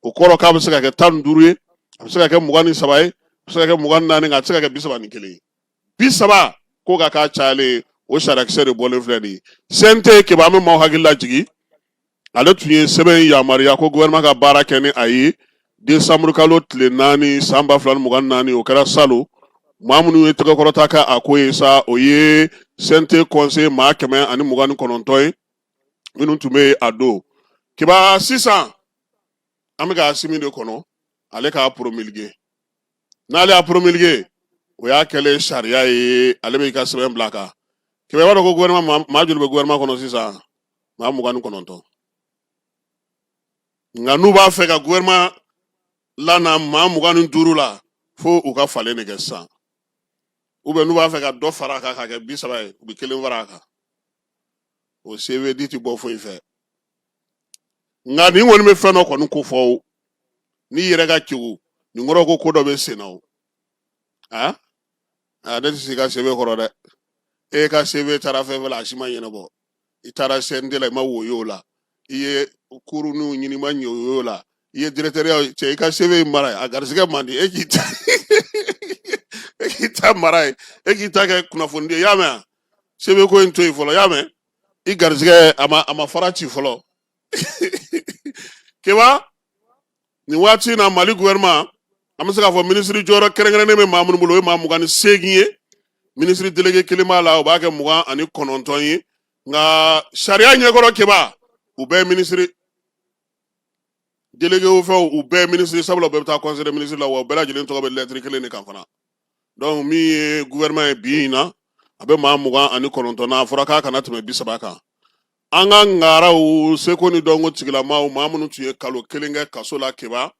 o kɔrɔ k'a bɛ se ka kɛ tan ni duuru ye a bɛ se ka kɛ mugan ni saba ye a bɛ se ka kɛ mugan ni naani nka a tɛ se ka kɛ bi saba ni kelen ye bi saba ko ka k'a cayalen o sariyakisɛ de bɔlen filɛ nin ye CNT keba an bɛ maaw hakili lajigi ale tun ye sɛbɛn yamaruya ko gouvernement ka baara kɛ ni a ye desanburu kalo tile naani san ba fila ni mugan ni naani o kɛra salon maa minnu ye tɛgɛkɔrɔta kɛ a ko ye sa o ye CNT conseil maa kɛmɛ ani mugan ni kɔnɔntɔn ye minnu tun bɛ a don keba sisan an bɛ ka asimi de kɔnɔ ale k'a promulguer n'ale y'a promulguer o y'a kɛlen sariya ye ale bɛ i ka sɛbɛn bila a kan keba i b'a dɔn ko gouvernement maa joli bɛ gouvernement kɔnɔ sisan maa mugan ni kɔnɔntɔn nka n'u b'a fɛ ka gouvernement lana maa mugan ni duuru la fo u ka falen de kɛ sisan n'u b'a fɛ ka dɔ fara a kan ka kɛ bi saba ye u bɛ kelen fara a kan o CV di ti bɔ foyi fɛ nka nin kɔni bɛ fɛn dɔ kɔni kofɔ o n'i yɛrɛ ka kegu nin kɔrɔ ko ko dɔ bɛ sen na o a a ne tɛ se i ka CV kɔrɔ dɛ e ka CV taara fɛn fɛn la a si ma ɲɛnabɔ i taara CNT la i ma woyo la i ye kuruninw ɲini i ma ɲɛ woyo la i ye dirɛkitɛriya cɛ i ka CV mara yen a garisigɛ man di e k'i ta e k'i ta mara yen e k'i ta kɛ kunnafoni di ye y'a mɛn a CV ko in to yen fɔlɔ y'a mɛn i garisigɛ a ma a ma fara ci fɔlɔ keba nin waati in na mali gouvernement an bɛ se k'a fɔ minisiri jɔyɔrɔ kɛrɛnkɛrɛnnen bɛ maa minnu bolo o ye maa mugan ni seegin ye minisiri delege kelen b'a la o b'a kɛ mugan ani kɔnɔntɔn ye nka sariya ɲɛkɔrɔ keba u bɛɛ ye minisiri délégué o fɛnw u bɛɛ minisiri sabula u bɛɛ bɛ taa conseil des ministres la wa u bɛɛ lajɛlen tɔgɔ bɛ lɛtiri kelen de kan fana donc min ye gouvernement ye bi in na a bɛ maa mugan ani kɔnɔntɔn na a fɔra k'a kana tɛmɛ bi saba kan an ka ngaraw seko ni dɔnko tigilamaw maa minnu tun ye kalo kelen kɛ kaso la keba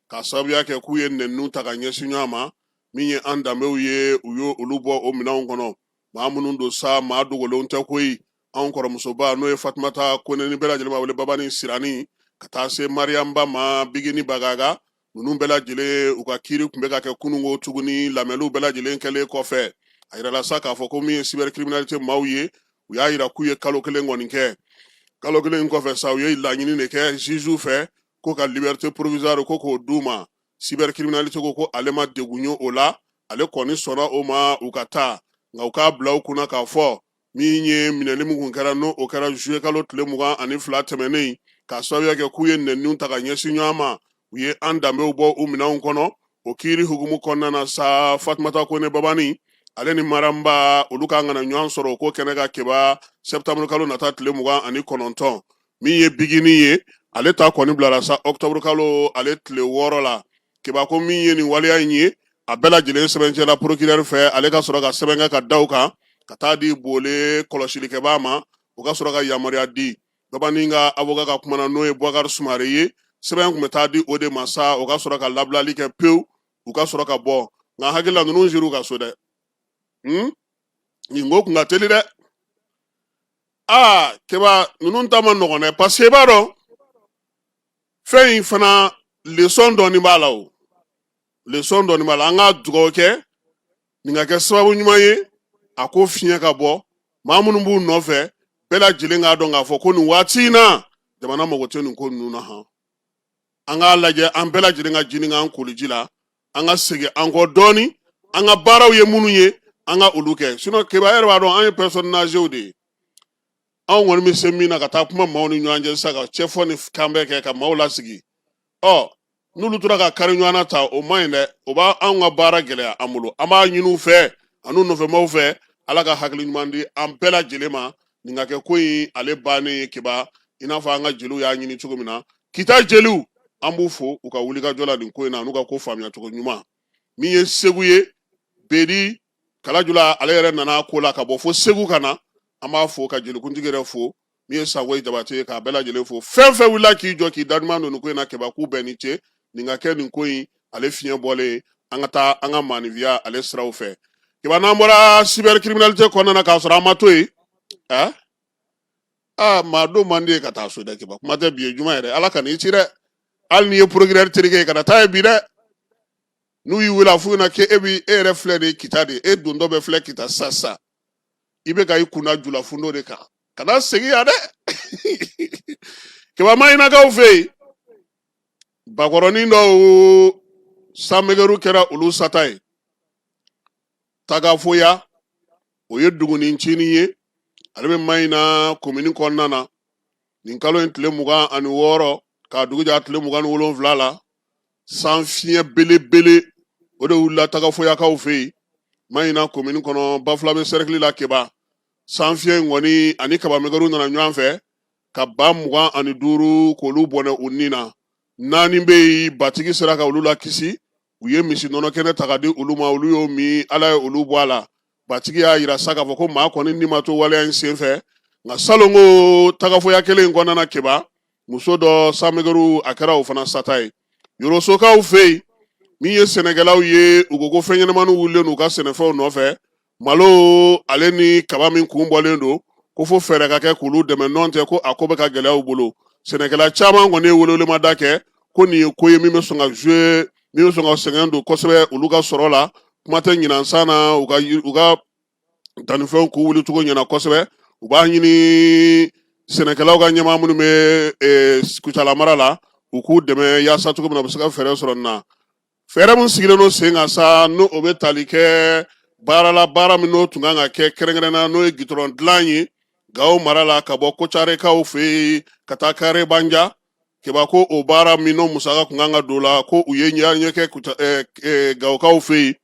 ka sababuya kɛ k'u ye nɛniniw ta ka ɲɛsin ɲɔgɔn ma min ye an danbew ye u ye olu bɔ o minɛnw kɔnɔ maa minnu don sa maa dogolenw tɛ koyi anw kɔrɔmusoba n'o ye fatumata kone ni bɛɛ lajɛlen b'a wele babani sirani ka taa se mariyam ba ma bigini bagaga ninnu bɛɛ lajɛlen u ka kiiri tun bɛ ka kɛ kununko tuguni lamɛnniw bɛɛ lajɛlen kɛlen kɔfɛ a jirala sa k'a fɔ ko min ye cybercriminalité maaw ye u y'a jira k'u ye kalo kelen kɔni kɛ kalo kelen kɔfɛ sa u ye laɲini de kɛ juge fɛ ko ka liberté provisoire ko k'o d'u ma cybercriminalité ko ko ale ma degun ye o la ale kɔni sɔnna o ma u ka taa nka u k'a bila u kunna k'a fɔ min ye minɛli min kun kɛra n'o o kɛra zuye kalo tile mugan ani fila tɛmɛnen ka sababuya kɛ k'u ye nɛniniw ta ka ɲɛsin ɲɔgɔn ma u ye an danbew bɔ u minɛnw kɔnɔ o kiiri hukumu kɔnɔna na sa fatumata kone babani ale ni maramba olu ka kan ka na ɲɔgɔn sɔrɔ o ko kɛnɛ kan keba sɛtanburu kalo nata tile mugan ani kɔnɔntɔn min ye bigini ye ale ta kɔni bilara sa octobre kalo ale tile wɔɔrɔ la kɛba ko min ye nin waleya in ye a bɛɛ lajɛlen sɛbɛncɛla procureur fɛ ale ka sɔrɔ ka sɛbɛn kɛ ka da o kan ka taa di Bole kɔlɔsilikɛbaa ma o ka sɔrɔ ka yamaruya di Babani ka avocat ka kumana n'o ye Boubacar Soumaré ye sɛbɛn kun bɛ taa di o de ma sa o ka sɔrɔ ka labilali kɛ pewu u ka sɔrɔ ka bɔ nka hakili la ninnu sira u ka so dɛ nin ko kun ka teli dɛ aa kɛba ninnu ta man nɔgɔn dɛ paseke i b'a dɔn fɛn in fana lesɔn dɔɔni b'a la o lesɔn dɔɔni b'a la an ka dugawu kɛ nin ka kɛ sababu ɲuman ye a ko fiɲɛ ka bɔ maa minnu b'u nɔfɛ bɛɛ lajɛlen k'a dɔn k'a fɔ ko nin waati in na jamana mago tɛ nin ko ninnu na han an k'a lajɛ an bɛɛ lajɛlen ka jini k'an koliji la an ka segin an kɔ dɔɔni an ka baaraw ye minnu ye an ka olu kɛ sinon kɛba yɛrɛ b'a dɔn an ye personnes âgéesw de ye anw kɔni bɛ se min na ka taa kuma maaw ni ɲɔgɔn cɛ sisan ka cɛfɔ ni kanbɛn kɛ ka maaw lasigi ɔ n'olu tora ka kari ɲɔgɔn na ta o man ɲi dɛ o b'a anw ka baara gɛlɛya an bolo an b'a ɲini u fɛ an'u nɔfɛmaaw fɛ ala ka hakili ɲuman di an bɛɛ lajɛlen ma nin ka kɛ ko in ale bannen ye kɛba i n'a fɔ an ka jeliw y'a ɲini cogo min na kita jeliw an b'u fo u ka wulikajɔ la nin ko in na n'u ka ko faamuyacogo ɲuman min ye segu ye bedi kalajula ale yɛrɛ nana ko la ka bɔ fo segu ka na an b'a fo ka jelikuntigi yɛrɛ fo min ye sangoyi jabate ye k'a bɛɛ lajɛlen fo fɛn fɛn wulila k'i jɔ k'i daduman don nin ko in na kɛba k'u bɛɛ ni ce nin ka kɛ nin ko in ale fiɲɛ bɔlen an ka taa an ka maanifiya ale siraw fɛ kɛba n'an bɔra cyber criminalité kɔnɔna na k'a sɔrɔ an ma to yen ɛ aa maa don man di yen ka taa so dɛ kɛba kuma tɛ bi ye juma yɛrɛ ala kan'i ci dɛ hali n'i ye procureur terikɛ ye kana taa yen bi dɛ n'u y'i wele a f'u ɲɛna k'e bi e yɛrɛ filɛ de kita de e dontɔ bɛ filɛ kita sisan sisan i bɛ ka i kunna julafundo de kan kana segin yan dɛ kɛba maɲinakaw fɛ yen bakɔrɔnin dɔw sanmɛgɛru kɛra olu sata ye tagafoya o ye dugunin cinin ye ale bɛ maɲina komini kɔnɔna na nin kalo in tile mugan ani wɔɔrɔ k'a dugu jɛ tile mugan ni wolonwula la san fiɲɛ belebele o de wulila tagafoyakaw fɛ yen maɲina komini kɔnɔ bafulabe sɛrɛkili la kɛba san fiɲɛ in kɔni ani kabamɛgɛru nana ɲɔgɔn fɛ ka ba mugan ani duuru k'olu bɔnɛ u ni na naani bɛ yen batigi sera ka olu lakisi u ye misi nɔnɔ kɛnɛ ta ka di olu ma olu y'o min ala ye olu bɔ a la batigi y'a yira sa k'a fɔ ko maa kɔni ni ma to waleya in sen fɛ nka salon ko tagafoya kelen in kɔnɔna kɛba muso dɔ sanmɛgɛru a kɛra o fana sata ye yorosokaw fɛ yen min ye sɛnɛkɛlaw ye u ko ko fɛn ɲɛnamaniw wulilen u ka sɛnɛfɛnw nɔfɛ malo ale ni kaba min kun bɔlen don ko fo fɛɛrɛ ka kɛ k'olu dɛmɛ nɔn tɛ ko a ko bɛ ka gɛlɛya u bolo sɛnɛkɛla caman kɔni ye welewelemada kɛ ko nin ye ko ye min bɛ sɔn ka joue min bɛ sɔn ka sɛgɛn don kosɛbɛ olu ka sɔrɔ la kuma tɛ ɲinansan na u ka u ka dannifɛnw k'u wuli cogo ɲɛna kosɛbɛ u b'a ɲini sɛnɛkɛlaw ka ɲɛmaa minnu bɛ e, kucala mara la u k'u dɛmɛ yaasa cogo min na u bɛ se ka fɛɛrɛ sɔrɔ nin na Fɛɛrɛ min sigilen don sen kan sa n'o o bɛ tali kɛ baarala baara min n'o tun kan ka kɛ kɛrɛnkɛrɛnna n'o ye gitɔrɔn dilan ye gawo mara la ka bɔ kocarekaw fɛ yen ka taa karebanjan keba ko o baara min n'o musaka tun kan ka don la ko u ye ɲɔgɔnye kɛ gawokaw fɛ yen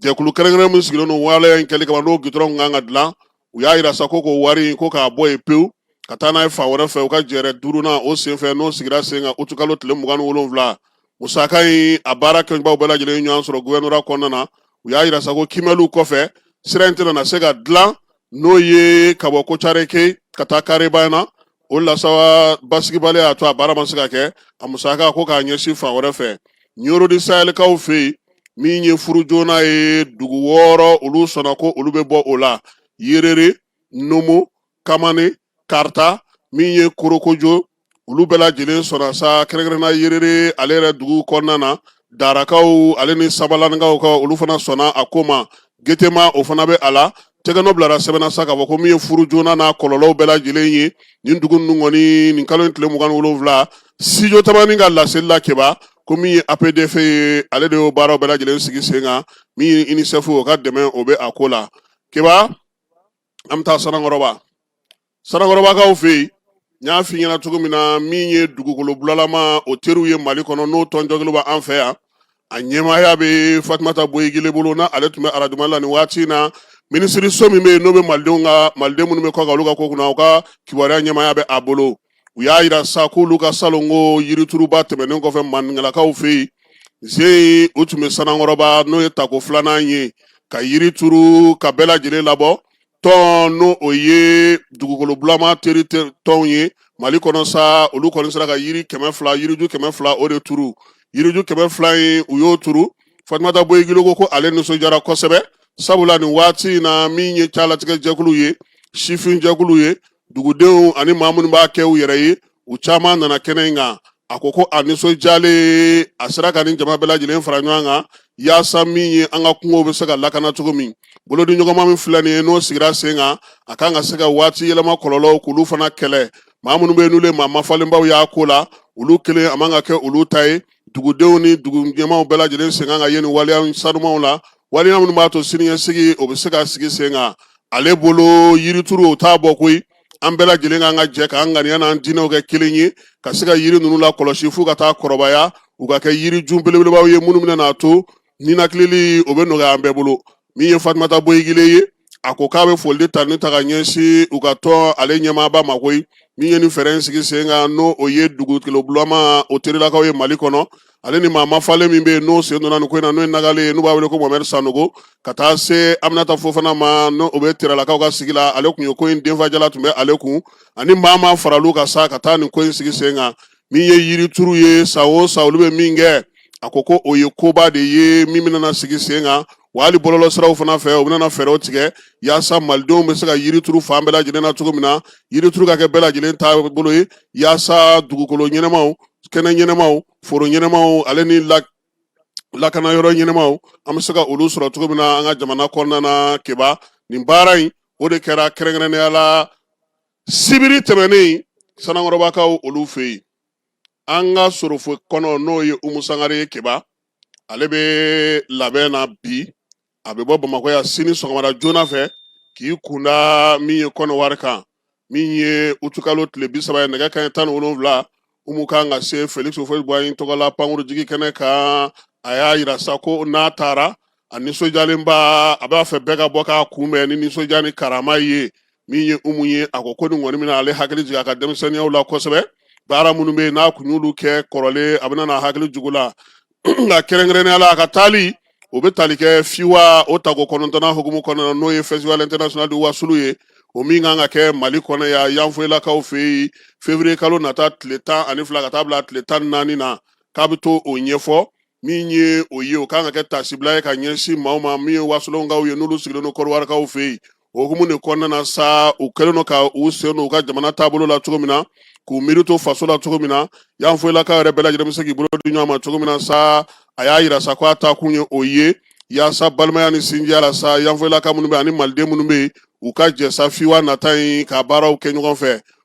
jɛkulu kɛrɛnkɛrɛn min sigilen don waleya in kɛli kama n'o gitɔrɔn tun kan ka dilan u y'a jira sa ko k'o wari ko k'a bɔ yen pewu ka taa n'a ye fan wɛrɛ fɛ u ka jɛrɛ duurunan o senfɛ n'o sigira sen kan utukalo tile mugan ni wolonwula musaka in a baara kɛbaw bɛɛ lajɛlen ɲɔgɔn sɔrɔ gouvernorat kɔnɔna na u y'a jira sa ko kiimɛliw kɔfɛ sira in tɛna se ka dilan n'o ye ka bɔ kocareke ka taa karebanjan o la sa wa basigibali y'a to a baara ma se ka kɛ a musaka ko k'a ɲɛsin fan wɛrɛ fɛ ɲoro di sahɛlikaw fɛ yen min ye furu joona ye dugu wɔɔrɔ olu sɔnna ko olu bɛ bɔ o la yerere nomo kamani kaarta min ye korokojo olu bɛɛ lajɛlen sɔnna sa kɛrɛnkɛrɛnna yerere ale yɛrɛ dugu kɔnɔna na darakaw ale ni sabalaninkaw ka olu fana sɔnna a ko ma getema o fana bɛ a la tɛgɛnɔ bilara sɛbɛn na sa k'a fɔ ko min ye furu joona n'a kɔlɔlɔw bɛɛ lajɛlen ye nin dugu ninnu kɔni nin kalo in tile mugan ni wolonwula studio tamani ka laseli la keba ko min ye apdf ye ale de y'o baaraw bɛɛ lajɛlen sigi sen kan min ye unicef o ka dɛmɛ o bɛ a ko la keba an bɛ taa sanankɔrɔba sanankɔrɔbakaw fɛ yen n y'a f'i ɲɛna cogo min na min ye dugukolo bulalama o teriw ye mali kɔnɔ n'o tɔn jɛkulu bɛ an fɛ yan a ɲɛmaaya bɛ fatumata boyigile bolo na ale tun bɛ arajo mali la nin waati in na minisiriso min bɛ yen n'o bɛ malidenw ka maliden minnu bɛ kɔkan olu ka ko kunna u ka kibaruya ɲɛmaaya bɛ a bolo u y'a jira sa k'olu ka salon ko yirituruba tɛmɛnen kɔfɛ maninkalakaw fɛ yen ze u tun bɛ sanankɔrɔba n'o ye tako filanan ye ka yiri turu ka bɛɛ lajɛlen labɔ tɔn n'o o ye dugukolo bulama teri tɔnw ye mali kɔnɔ sa olu kɔni sera ka yiri kɛmɛ fila yiriju kɛmɛ fila o de turu yiriju kɛmɛ fila in u y'o turu fatumata boyigile ko ko ale nisɔndiyara kosɛbɛ sabula nin waati in na min ye calatigɛ jɛkulu ye sifin jɛkulu ye dugudenw ani maa minnu b'a kɛ u yɛrɛ ye u caman nana kɛnɛ in kan a ko ko a nisɔndiyalen a sera ka nin jama bɛɛ lajɛlen fara ɲɔgɔn kan yaasa min ye an ka kungow bɛ se ka lakana cogo min bolodiɲɔgɔnma min filɛ nin ye n'o sigira sen kan a kan ka se ka waati yɛlɛma kɔlɔlɔw k'olu fana kɛlɛ maa minnu bɛ yen n'olu ye maa mafalenbaw y'a ko la olu kelen a man ka kɛ olu ta ye dugudenw ni dugu ɲɛmaaw bɛɛ lajɛlen sen kan ka ye nin waleya sanumaw la waleya minnu b'a to siniɲɛsigi o bɛ se ka sigi sen kan ale bolo yirituru o t'a bɔ koyi an bɛɛ lajɛlen kan ka jɛ k'an ŋaniya n'an diinɛw kɛ kelen ye ka se ka yiri ninnu lakɔlɔsi fo u ka taa kɔrɔbaya u ka kɛ yirijun belebelebaw ye minnu bɛna n'a to ninakilili o bɛ nɔgɔya an bɛɛ bolo min ye fatumata boyigile ye a ko k'a bɛ foli ni tanuni ta ka ɲɛsin u ka tɔn ale ɲɛmaaba ma koyi min ye nin fɛɛrɛ in sigi sen kan n'o o ye dugukolo bulama o terilakaw ye mali kɔnɔ ale ni maa mafalen min bɛ yen n'o sen donna nin ko in na n'o ye nagali ye n'u b'a wele ko mohamed sanogo ka taa se aminata fofana ma n'o o bɛ terelakaw ka sigi la ale tun ye ko in denfajala tun bɛ ale kun ani maa ma faral'u kan sa ka taa nin ko in sigi sen kan min ye yirituru ye san o san olu bɛ min kɛ a ko ko o ye koba de ye min bɛna sigi sen kan wa hali bɔlɔlɔsiraw fana fɛ u bɛna fɛɛrɛw tigɛ yaasa malidenw bɛ se ka yiri turu fan bɛɛ lajɛlen na cogo min na yirituru ka kɛ bɛɛ lajɛlen taabolo ye yaasa dugukolo ɲɛnamaw kɛnɛ ɲɛnamaw foro ɲɛnamaw ale ni lakana yɔrɔ ɲɛnamaw an bɛ se ka olu sɔrɔ cogo min na an ka jamana kɔnɔna na keba nin baara in o de kɛra kɛrɛnkɛrɛnnenya la sibiri tɛmɛnen sanankɔrɔbakaw olu fɛ yen an ka sorofo kɔnɔ n'o ye umu sangare ye keba ale bɛ labɛn na bi a bɛ bɔ bamakɔ yan sini sɔgɔmada joona fɛ k'i kun da min ye kɔnɔwari kan min ye utukalo tile bi saba ye nɛgɛ kanɲɛ tan ni wolonwula umu kan ka se felix houphouët boigny tɔgɔla pankurujigi kɛnɛ kan a y'a yira sa ko n'a taara a nisɔndiyalenba a b'a fɛ bɛɛ ka bɔ k'a kunbɛn ni nisɔndiya ni karama ye min ye umu ye a ko ko nin kɔni bɛna ale hakili jigin a ka denmisɛnninyaw la kosɛbɛ baara minnu bɛ yen n'a kun y'olu kɛ kɔrɔlen a bɛna n'a hakili jigin u la nka kɛrɛnkɛrɛnnenya la a ka taali o bɛ tali kɛ fiwa o tako kɔnɔntɔnnan hukumu kɔnɔna n'o ye festival international de wasulu ye o min kan ka kɛ mali kɔnɔ yan yanfoyilakaw fɛ yen fevrier kalo nata tile tan ani fila ka taa bila tile tan ni naani na k'a bɛ taa o ɲɛfɔ min ye o ye o kan ka kɛ taasibila ye ka ɲɛsin maaw ma min ye wasolonkaw ye n'olu sigilen don kɔrɔwarikaw fɛ yen o hukumu de kɔnɔna na sa u kɛlen don ka u sen don u ka jamana taabolo la cogo min na k'u miiri to faso la cogo min na yanfoyilakaw yɛrɛ bɛɛ lajɛlen bɛ se k'i bolo di ɲɔgɔn ma cogo min na sa a y'a yira sa ko a taa kun ye o ye yaasa balimaya ni sinjiya la sa yanfoyilaka minnu bɛ ani maliden minnu bɛ yen u ka jɛ sa fiwa nata in ka baaraw kɛ ɲɔgɔn fɛ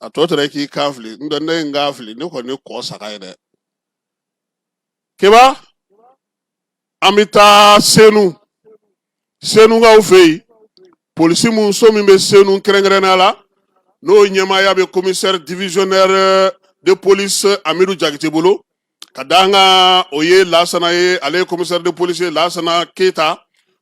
a tɔ tora k'i kan fili n tɛ ne ye n kan fili ne kɔni ye kɔ saga ye dɛ keba an bɛ taa senu senukaw fɛ yen polisi mun so min bɛ senu kɛrɛnkɛrɛnnenya la n'o ɲɛmaaya bɛ commissaire divisionnaire de police amidu jakite bolo k'a dankan o ye lasana ye ale ye commissaire de police lasana keyita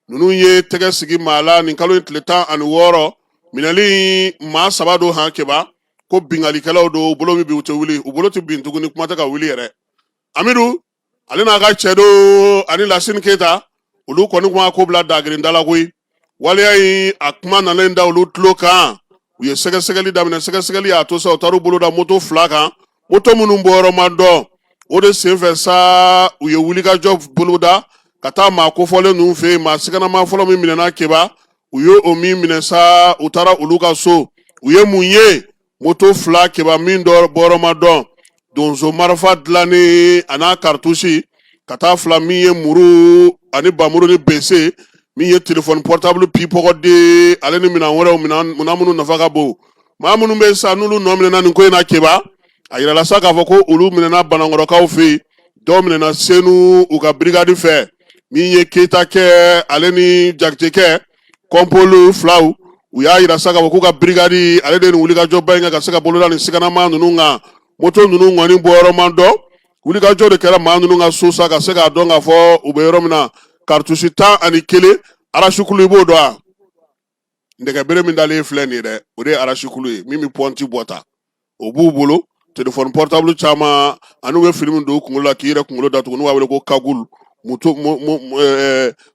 ninnu ye tɛgɛ sigi maa la nin kalo in tile tan ani wɔɔrɔ minɛli maa saba don han keba ko binkalikɛlaw don u bolo bɛ bin u tɛ wuli u bolo tɛ bin tuguni kuma tɛ ka wuli yɛrɛ amidu ale n'a ka cɛdenw ani lasini keyita olu kɔni kuma ko bila dagirinda la koyi waleya in a kuma nalen da olu tulo kan u ye sɛgɛsɛgɛli daminɛ sɛgɛsɛgɛli y'a to sa u taara u bolo da moto fila kan moto minnu bɔyɔrɔ ma dɔn o de senfɛ sa u ye wulikajɔ boloda ka taa maa kofɔlen ninnu fɛ yen maa siganama fɔlɔ min minɛna keba u ye o min minɛ sa u taara olu ka so u ye mun ye moto fila keba min bɔyɔrɔ ma dɔn donso marifa dilannen an'a karitusi ka taa fila min ye muru ani bamuru ni bese min ye telefɔni pɔrɔtabulu pipɔgɔden ale ni minɛn wɛrɛw minɛn minnu nafa ka bon maa minnu bɛ sa n'olu nɔ minɛna nin ko in na keba a yirala sa k'a fɔ ko olu minɛna banankɔrɔkaw fɛ yen dɔw minɛna senu u ka birikadi fɛ min ye keyita kɛ ale ni jakitekɛ kɔnpolu filaw u y'a yira sa k'a fɔ k'u ka birikadi ale de ye nin wulikajɔba in kɛ ka se ka bolo da nin siganama ninnu kan moto ninnu kɔni bɔyɔrɔ ma dɔn wulikajɔ de kɛra maa ninnu ka so sa ka se k'a dɔn k'a fɔ u bɛ yɔrɔ min na karitusi tan ani kelen arasukulu i b'o dɔn a nɛgɛbere min dalen filɛ nin ye dɛ o de ye arasukulu ye min bɛ pɔnti bɔ ta o b'u bolo telefɔni pɔrɔtabulu caman ani u bɛ fini min don kunkolo la k'i yɛrɛ kunkolo datugu n'u b'a wele ko kagulu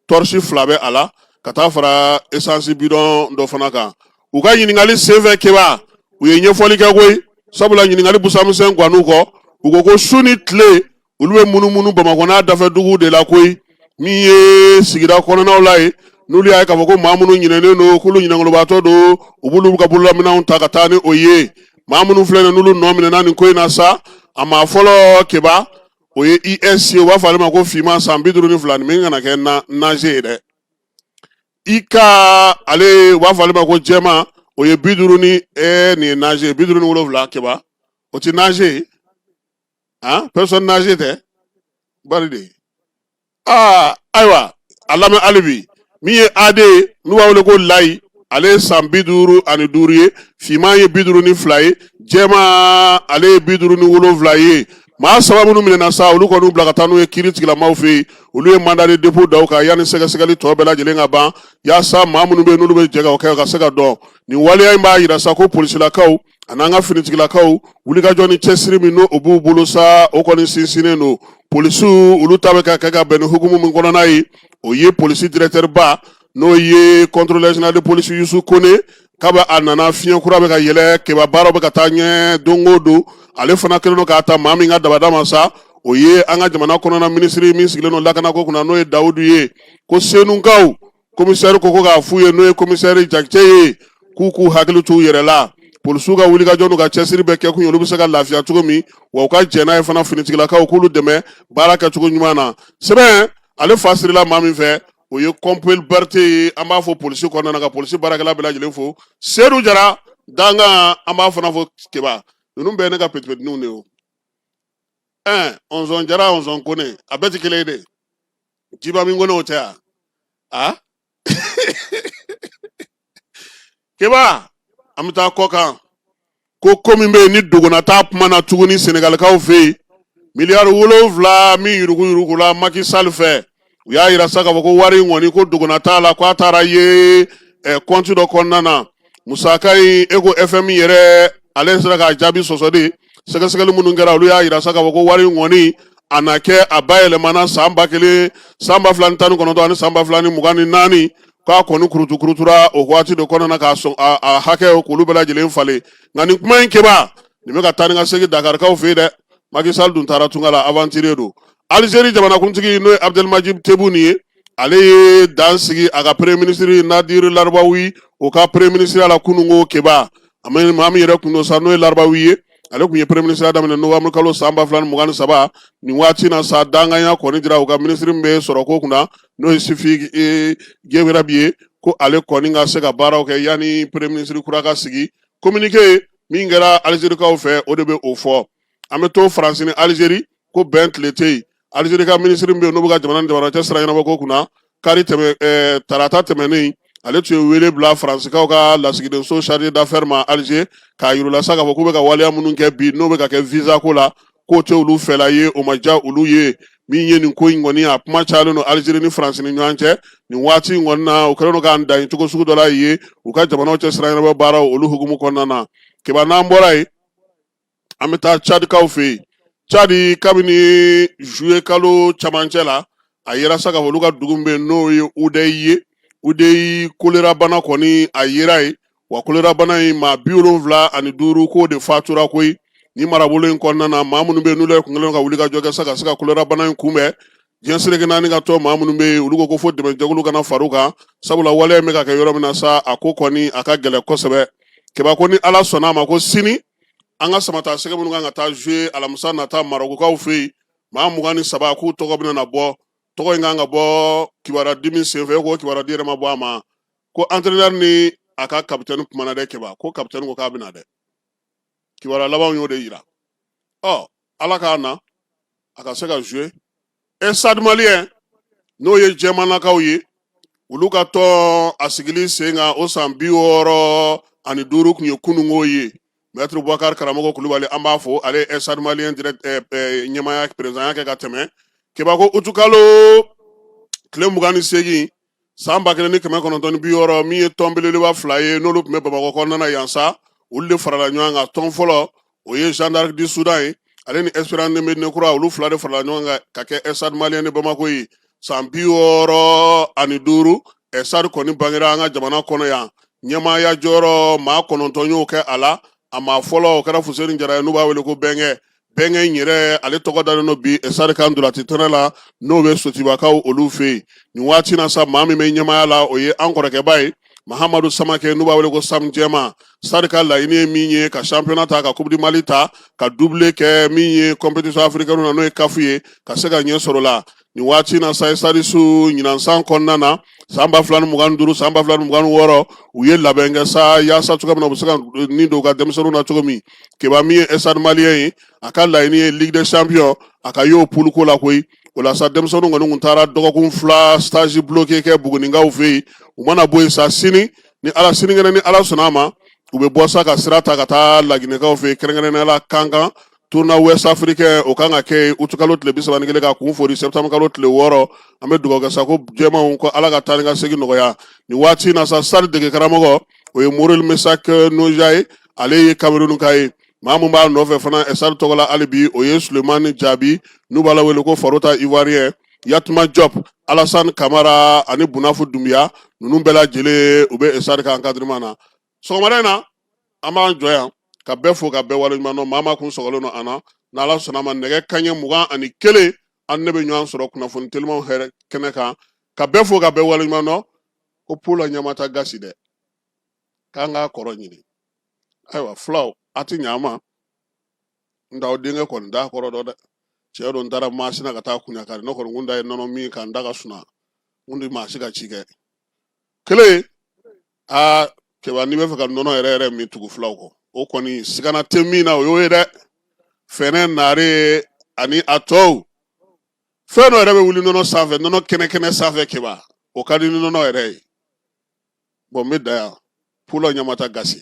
tɔrɔsi fila bɛ a la ka taa fara esansi bidɔn dɔ fana kan u ka ɲininkali senfɛ keba u ye ɲɛfɔli kɛ koyi sabula ɲininkali busamisɛn gan'u kɔ u ko ko su ni tile olu bɛ munumunu bamakɔ n'a dafɛ dugu de la koyi min ye sigida kɔnɔnaw la ye n'olu y'a ye k'a fɔ ko maa minnu ɲinɛnen don k'olu ɲinɛnkolobaatɔ don u b'olu ka bololaminɛnw ta ka taa ni o ye maa minnu filɛ nin n'olu nɔ minɛna nin ko in na sa a maa fɔlɔ keba o ye is ye u b'a fɔ ale ma ko finman san bi duuru ni fila nin min kana kɛ naze ye dɛ ik ale u b'a fɔ ale ma ko jɛma o ye bi duuru nin ye naze bi duuru ni wolonwula keba o tɛ naze ah personne âgée tɛ bari de aa ayiwa a lamɛn hali bi min ye ad ye n'u b'a wele ko layi ale ye san bi duuru ani duuru ye finman ye bi duuru ni fila ye jɛma ale ye bi duuru ni wolonwula ye maa saba minnu minɛna sa olu kɔni bila ka taa n'u ye kiiri tigilamaw fɛ yen olu ye mandat de dépôt da u kan yanni sɛgɛsɛgɛli tɔ bɛɛ lajɛlen ka ban yaasa maa minnu bɛ yen n'olu bɛ jɛ ka o kɛ ka se ka dɔn nin waleya in b'a yira sa ko polisilakaw ani an ka finitigilakaw wulikajɔ ni cɛsiri min n'o b'u bolo sa o kɔni sinsinnen don polisiw olu ta bɛ ka kɛ ka bɛn ni hukumu min kɔnɔna ye o ye polisi directeur ba n'o ye contrôleur général de police Yusu Kone kabi a nana fiɲɛ kura bɛ ka yɛlɛ keba baaraw bɛ ka taa ɲɛ don o don ale fana kɛlen don k'a ta maa min ka dabada ma sa o ye an ka jamana kɔnɔna minisiri min sigilen don lakanako kunna n'o ye Dawudu ye ko senukaw komisɛri ko ko k'a f'u ye n'o ye komisɛri jakite ye k'u k'u hakili t'u yɛrɛ la polisiw ka wulikajɔ n'u ka cɛsiri bɛɛ kɛ kun ye olu bɛ se ka lafiya cogo min wa u ka jɛn n'a ye fana finitigilakaw k'olu dɛmɛ baara kɛcogo ɲuman na sɛbɛn ale fa sirila maa min fɛ o ye kɔnpeli berete ye an b'a fo polisi kɔnɔna na ka polisi baarakɛla bɛɛ lajɛlen fo sedu jara dankan an b'a fana fo keba ninnu bɛɛ ye ne ka petipetininw de ye o ɛn ɔnzɔn jara ɔnzɔn kone a bɛɛ tɛ kelen ye dɛ jiba min kɔnɔ o tɛ yan a keba an bɛ taa kɔ kan ko ko min bɛ yen ni dogona t'a kuma na tuguni senegalikaw fɛ yen miliyari wolonfila min yuruguyurugula maki sali fɛ u y'a yira sa k'a fɔ ko wari in kɔni ko dogona t'a la ko a taara ye kɔnti dɔ kɔnɔna na musaka in ko FMI yɛrɛ ale sera k'a jaabi sɔsɔ de sɛgɛsɛgɛli minnu kɛra olu y'a jira sa k'a fɔ ko wari in kɔni a na kɛ a bayɛlɛmana san ba kelen san ba fila ni tan ni kɔnɔntɔn ani san ba fila ni mugan ni naani k'a kɔni kurutu kurutura o waati de kɔnɔna na k'a sɔn a hakɛ k'olu bɛɛ lajɛlen falen nka nin kuma in keba nin bɛ ka taa ni ka segin dakarikaw fɛ yen dɛ maki sali dun taara tunga la aventure don alizeri jamanakuntigi n'o ye abudelimaji tebuni ye ale ye dan sigi a ka premier minisiri nadiri larabawi o ka premier minisiriya la kununko keba maa min yɛrɛ kun don sa n'o ye larabawi ye ale kun ye premier minisiriya daminɛ novembre kalo san ba fila ni mugan ni saba nin waati na sa dankanya kɔni dira u ka minisiri min bɛ sɔrɔ ko kunna n'o ye sifi e, gewerabi ye ko ale kɔni ka se ka baaraw kɛ yanni premier minisiri kura ka sigi communiqué min kɛra alizerikaw fɛ o de bɛ o fɔ an bɛ to faransi ni alizeri ko bɛn tile tɛ yen alizeri ka minisiri min bɛ yen n'o bɛ ka jamana ni jamana cɛ sira ɲɛnabɔ ko kunna kari tɛmɛ ɛɛ tarata tɛmɛnen ale tun ye wele bila faransikaw ka lasigidenso chargé d'affaires ma alize k'a yir'u la sa k'a fɔ k'u bɛ ka waleya minnu kɛ bi n'o bɛ ka kɛ visa ko la k'o tɛ olu fɛla ye o ma diya olu ye min ye nin ko in kɔni a kuma cayalen don alizeri ni faransi ni ɲɔgɔn cɛ nin waati in kɔni na u kɛlen don k'an dan ye cogo sugu dɔ la yen u ka jamanaw cɛ sira ɲɛnabɔ baaraw olu hukumu kɔnɔna na keba n'an bɔra yen an bɛ taa cadikaw fɛ yen cadi kabini zuye kalo camancɛ la a yera sa k'a fɔ olu ka dugu bɛ yen n'o ye udeyi ye udeyi kolerabana kɔni a yera yen wa kolerabana in maa bi wolonwula ani duuru k'o de fatura koyi ni marabolo in kɔnɔna na maa minnu bɛ n'u ye kun ka wuli ka jɔ kɛ sa ka se ka kolerabana in kunbɛn diɲɛ seleke naani ka tɔn maa minnu bɛ yen olu ko ko fo dɛmɛjɛkulu ka na far'u kan sabula waleya bɛ ka kɛ yɔrɔ min na sa a ko kɔni a ka gɛlɛn kosɛbɛ keba ko ni ala sɔnna a ma ko sini an ka samatasɛgɛ minnu kan ka taa jouer alamisa nata marɔkukaw fɛ yen maa mugan ni saba k'u tɔgɔ bɛna na bɔ tɔgɔ in kan ka bɔ kibaruyadi min senfɛ ko kibaruyadi yɛrɛ ma bɔ a ma ko antrenɛri ni a ka kapitɛni kumana dɛ keba ko kapitɛni ko k'a bɛna dɛ kibaruya labanw y'o de yira ɔ ala k'a na a ka se ka jouer stade malien n'o ye jɛmanakaw ye olu ka tɔn a sigili sen kan o san bi wɔɔrɔ ani duuru kun ye kunungo ye mɛtiri bubakari karamɔgɔ kulubali an b'a fɔ ale ye stade malien ɲɛmaaya perezidanya kɛ ka tɛmɛ keba ko utukalo tile mugan ni segin san ba kelen ni kɛmɛ kɔnɔntɔn ni bi wɔɔrɔ min ye tɔn belebeleba fila ye n'olu tun bɛ bamakɔ kɔnɔna yan sa olu de farala ɲɔgɔn kan tɔn fɔlɔ o ye jeanne d'arc du soudan ye ale ni espérance de médina kura olu fila de farala ɲɔgɔn kan ka kɛ stade malien de bamakɔ ye san bi wɔɔrɔ ani duuru stade kɔni bangera an ka jamana kɔnɔ yan ɲɛmaaya jɔyɔrɔ maa kɔnɔntɔn y'o kɛ a la a maa fɔlɔ o kɛra fuseni jara ye n'u b'a wele ko bɛnkɛ bɛnkɛ in yɛrɛ ale tɔgɔ dalen don bi stade ka ntolaci kɛnɛ la n'o bɛ sotibakaw olu fɛ yen nin waati na sa maa min bɛ ɲɛmaaya la o ye an kɔrɔkɛba ye mahamadu samakɛ n'u b'a wele ko sam jɛma stade ka laɲini ye min ye ka championnat ta ka coupe du mali ta ka doublé kɛ min ye compétition africaine na n'o ye kafu ye ka se ka ɲɛ sɔrɔ la nin waati na sa stade su ɲinansan kɔnɔna na san ba fila ni mugan duuru san ba fila ni mugan wɔɔrɔ u ye labɛn kɛ sa yaasa cogoya min na u bɛ se ka ni don u ka denmisɛnninw na cogo min keba min ye stade malien ye a ka laɲini ye ligue des champions a ka y'o poule ko la koyi o la sa denmisɛnninw kɔni tun taara dɔgɔkun fila stage bloqué kɛ buguninkaw fɛ yen u mana bɔ yen sa sini ni ala sinikɛnɛ ni ala sɔnna a ma u bɛ bɔ sa ka sira ta ka taa laginɛkaw fɛ yen kɛrɛnkɛrɛnnenya la kankan tournoi ouest africain o kan ka kɛ yen uti kalo tile bi saba ni kelen ka kun fori septembre kalo tile wɔɔrɔ an bɛ dugawu kɛ sa ko jɛmanw ko ala ka taa ni ka segin nɔgɔya nin waati in na sa stade degekaramɔgɔ o ye moril mesak noja ye ale ye kamerunka ye maa min b'a nɔfɛ fana stade tɔgɔ la hali bi o ye sulemani jabi n'u b'a la wele ko farota ivoirien yatuma job alasan kamara ani bunafu dunbiya ninnu bɛɛ lajɛlen u bɛ stade ka encadrement na sɔgɔmada in na an b'an jɔ yan ka bɛɛ fo ka bɛɛ waleɲuman dɔn maa maa kun sɔgɔlen don an na n'ala sɔnna a ma nɛgɛ kanɲɛ mugan ani kelen an ne bɛ ɲɔgɔn sɔrɔ kunnafoni telimanw hɛrɛ kɛnɛ kan ka bɛɛ fo ka bɛɛ waleɲuman dɔn ko pulɔ ɲamata gasi dɛ k'an k'a kɔrɔ ɲini ayiwa fulaw a tɛ ɲa n ma nka aw denkɛ kɔni t'a kɔrɔ dɔn dɛ tiɲɛ don n taara masina ka taa kuɲakari ne kɔni kun ta ye nɔnɔ min ka n da ka suna n kun tɛ maa si ka ci kɛ kelen aa kɛba n'i bɛ fɛ ka nɔnɔ yɛrɛ yɛrɛ min tugu fulaw kɔ o kɔni sigana tɛ min na o y'o ye dɛ fɛnɛ naare ani a tɔw fɛn dɔ yɛrɛ bɛ wuli nɔnɔ sanfɛ nɔnɔ kɛnɛ kɛnɛ sanfɛ kɛba o ka di ni nɔnɔ yɛrɛ ye bɔn n bɛ dan yan pulɔ ɲamata gasi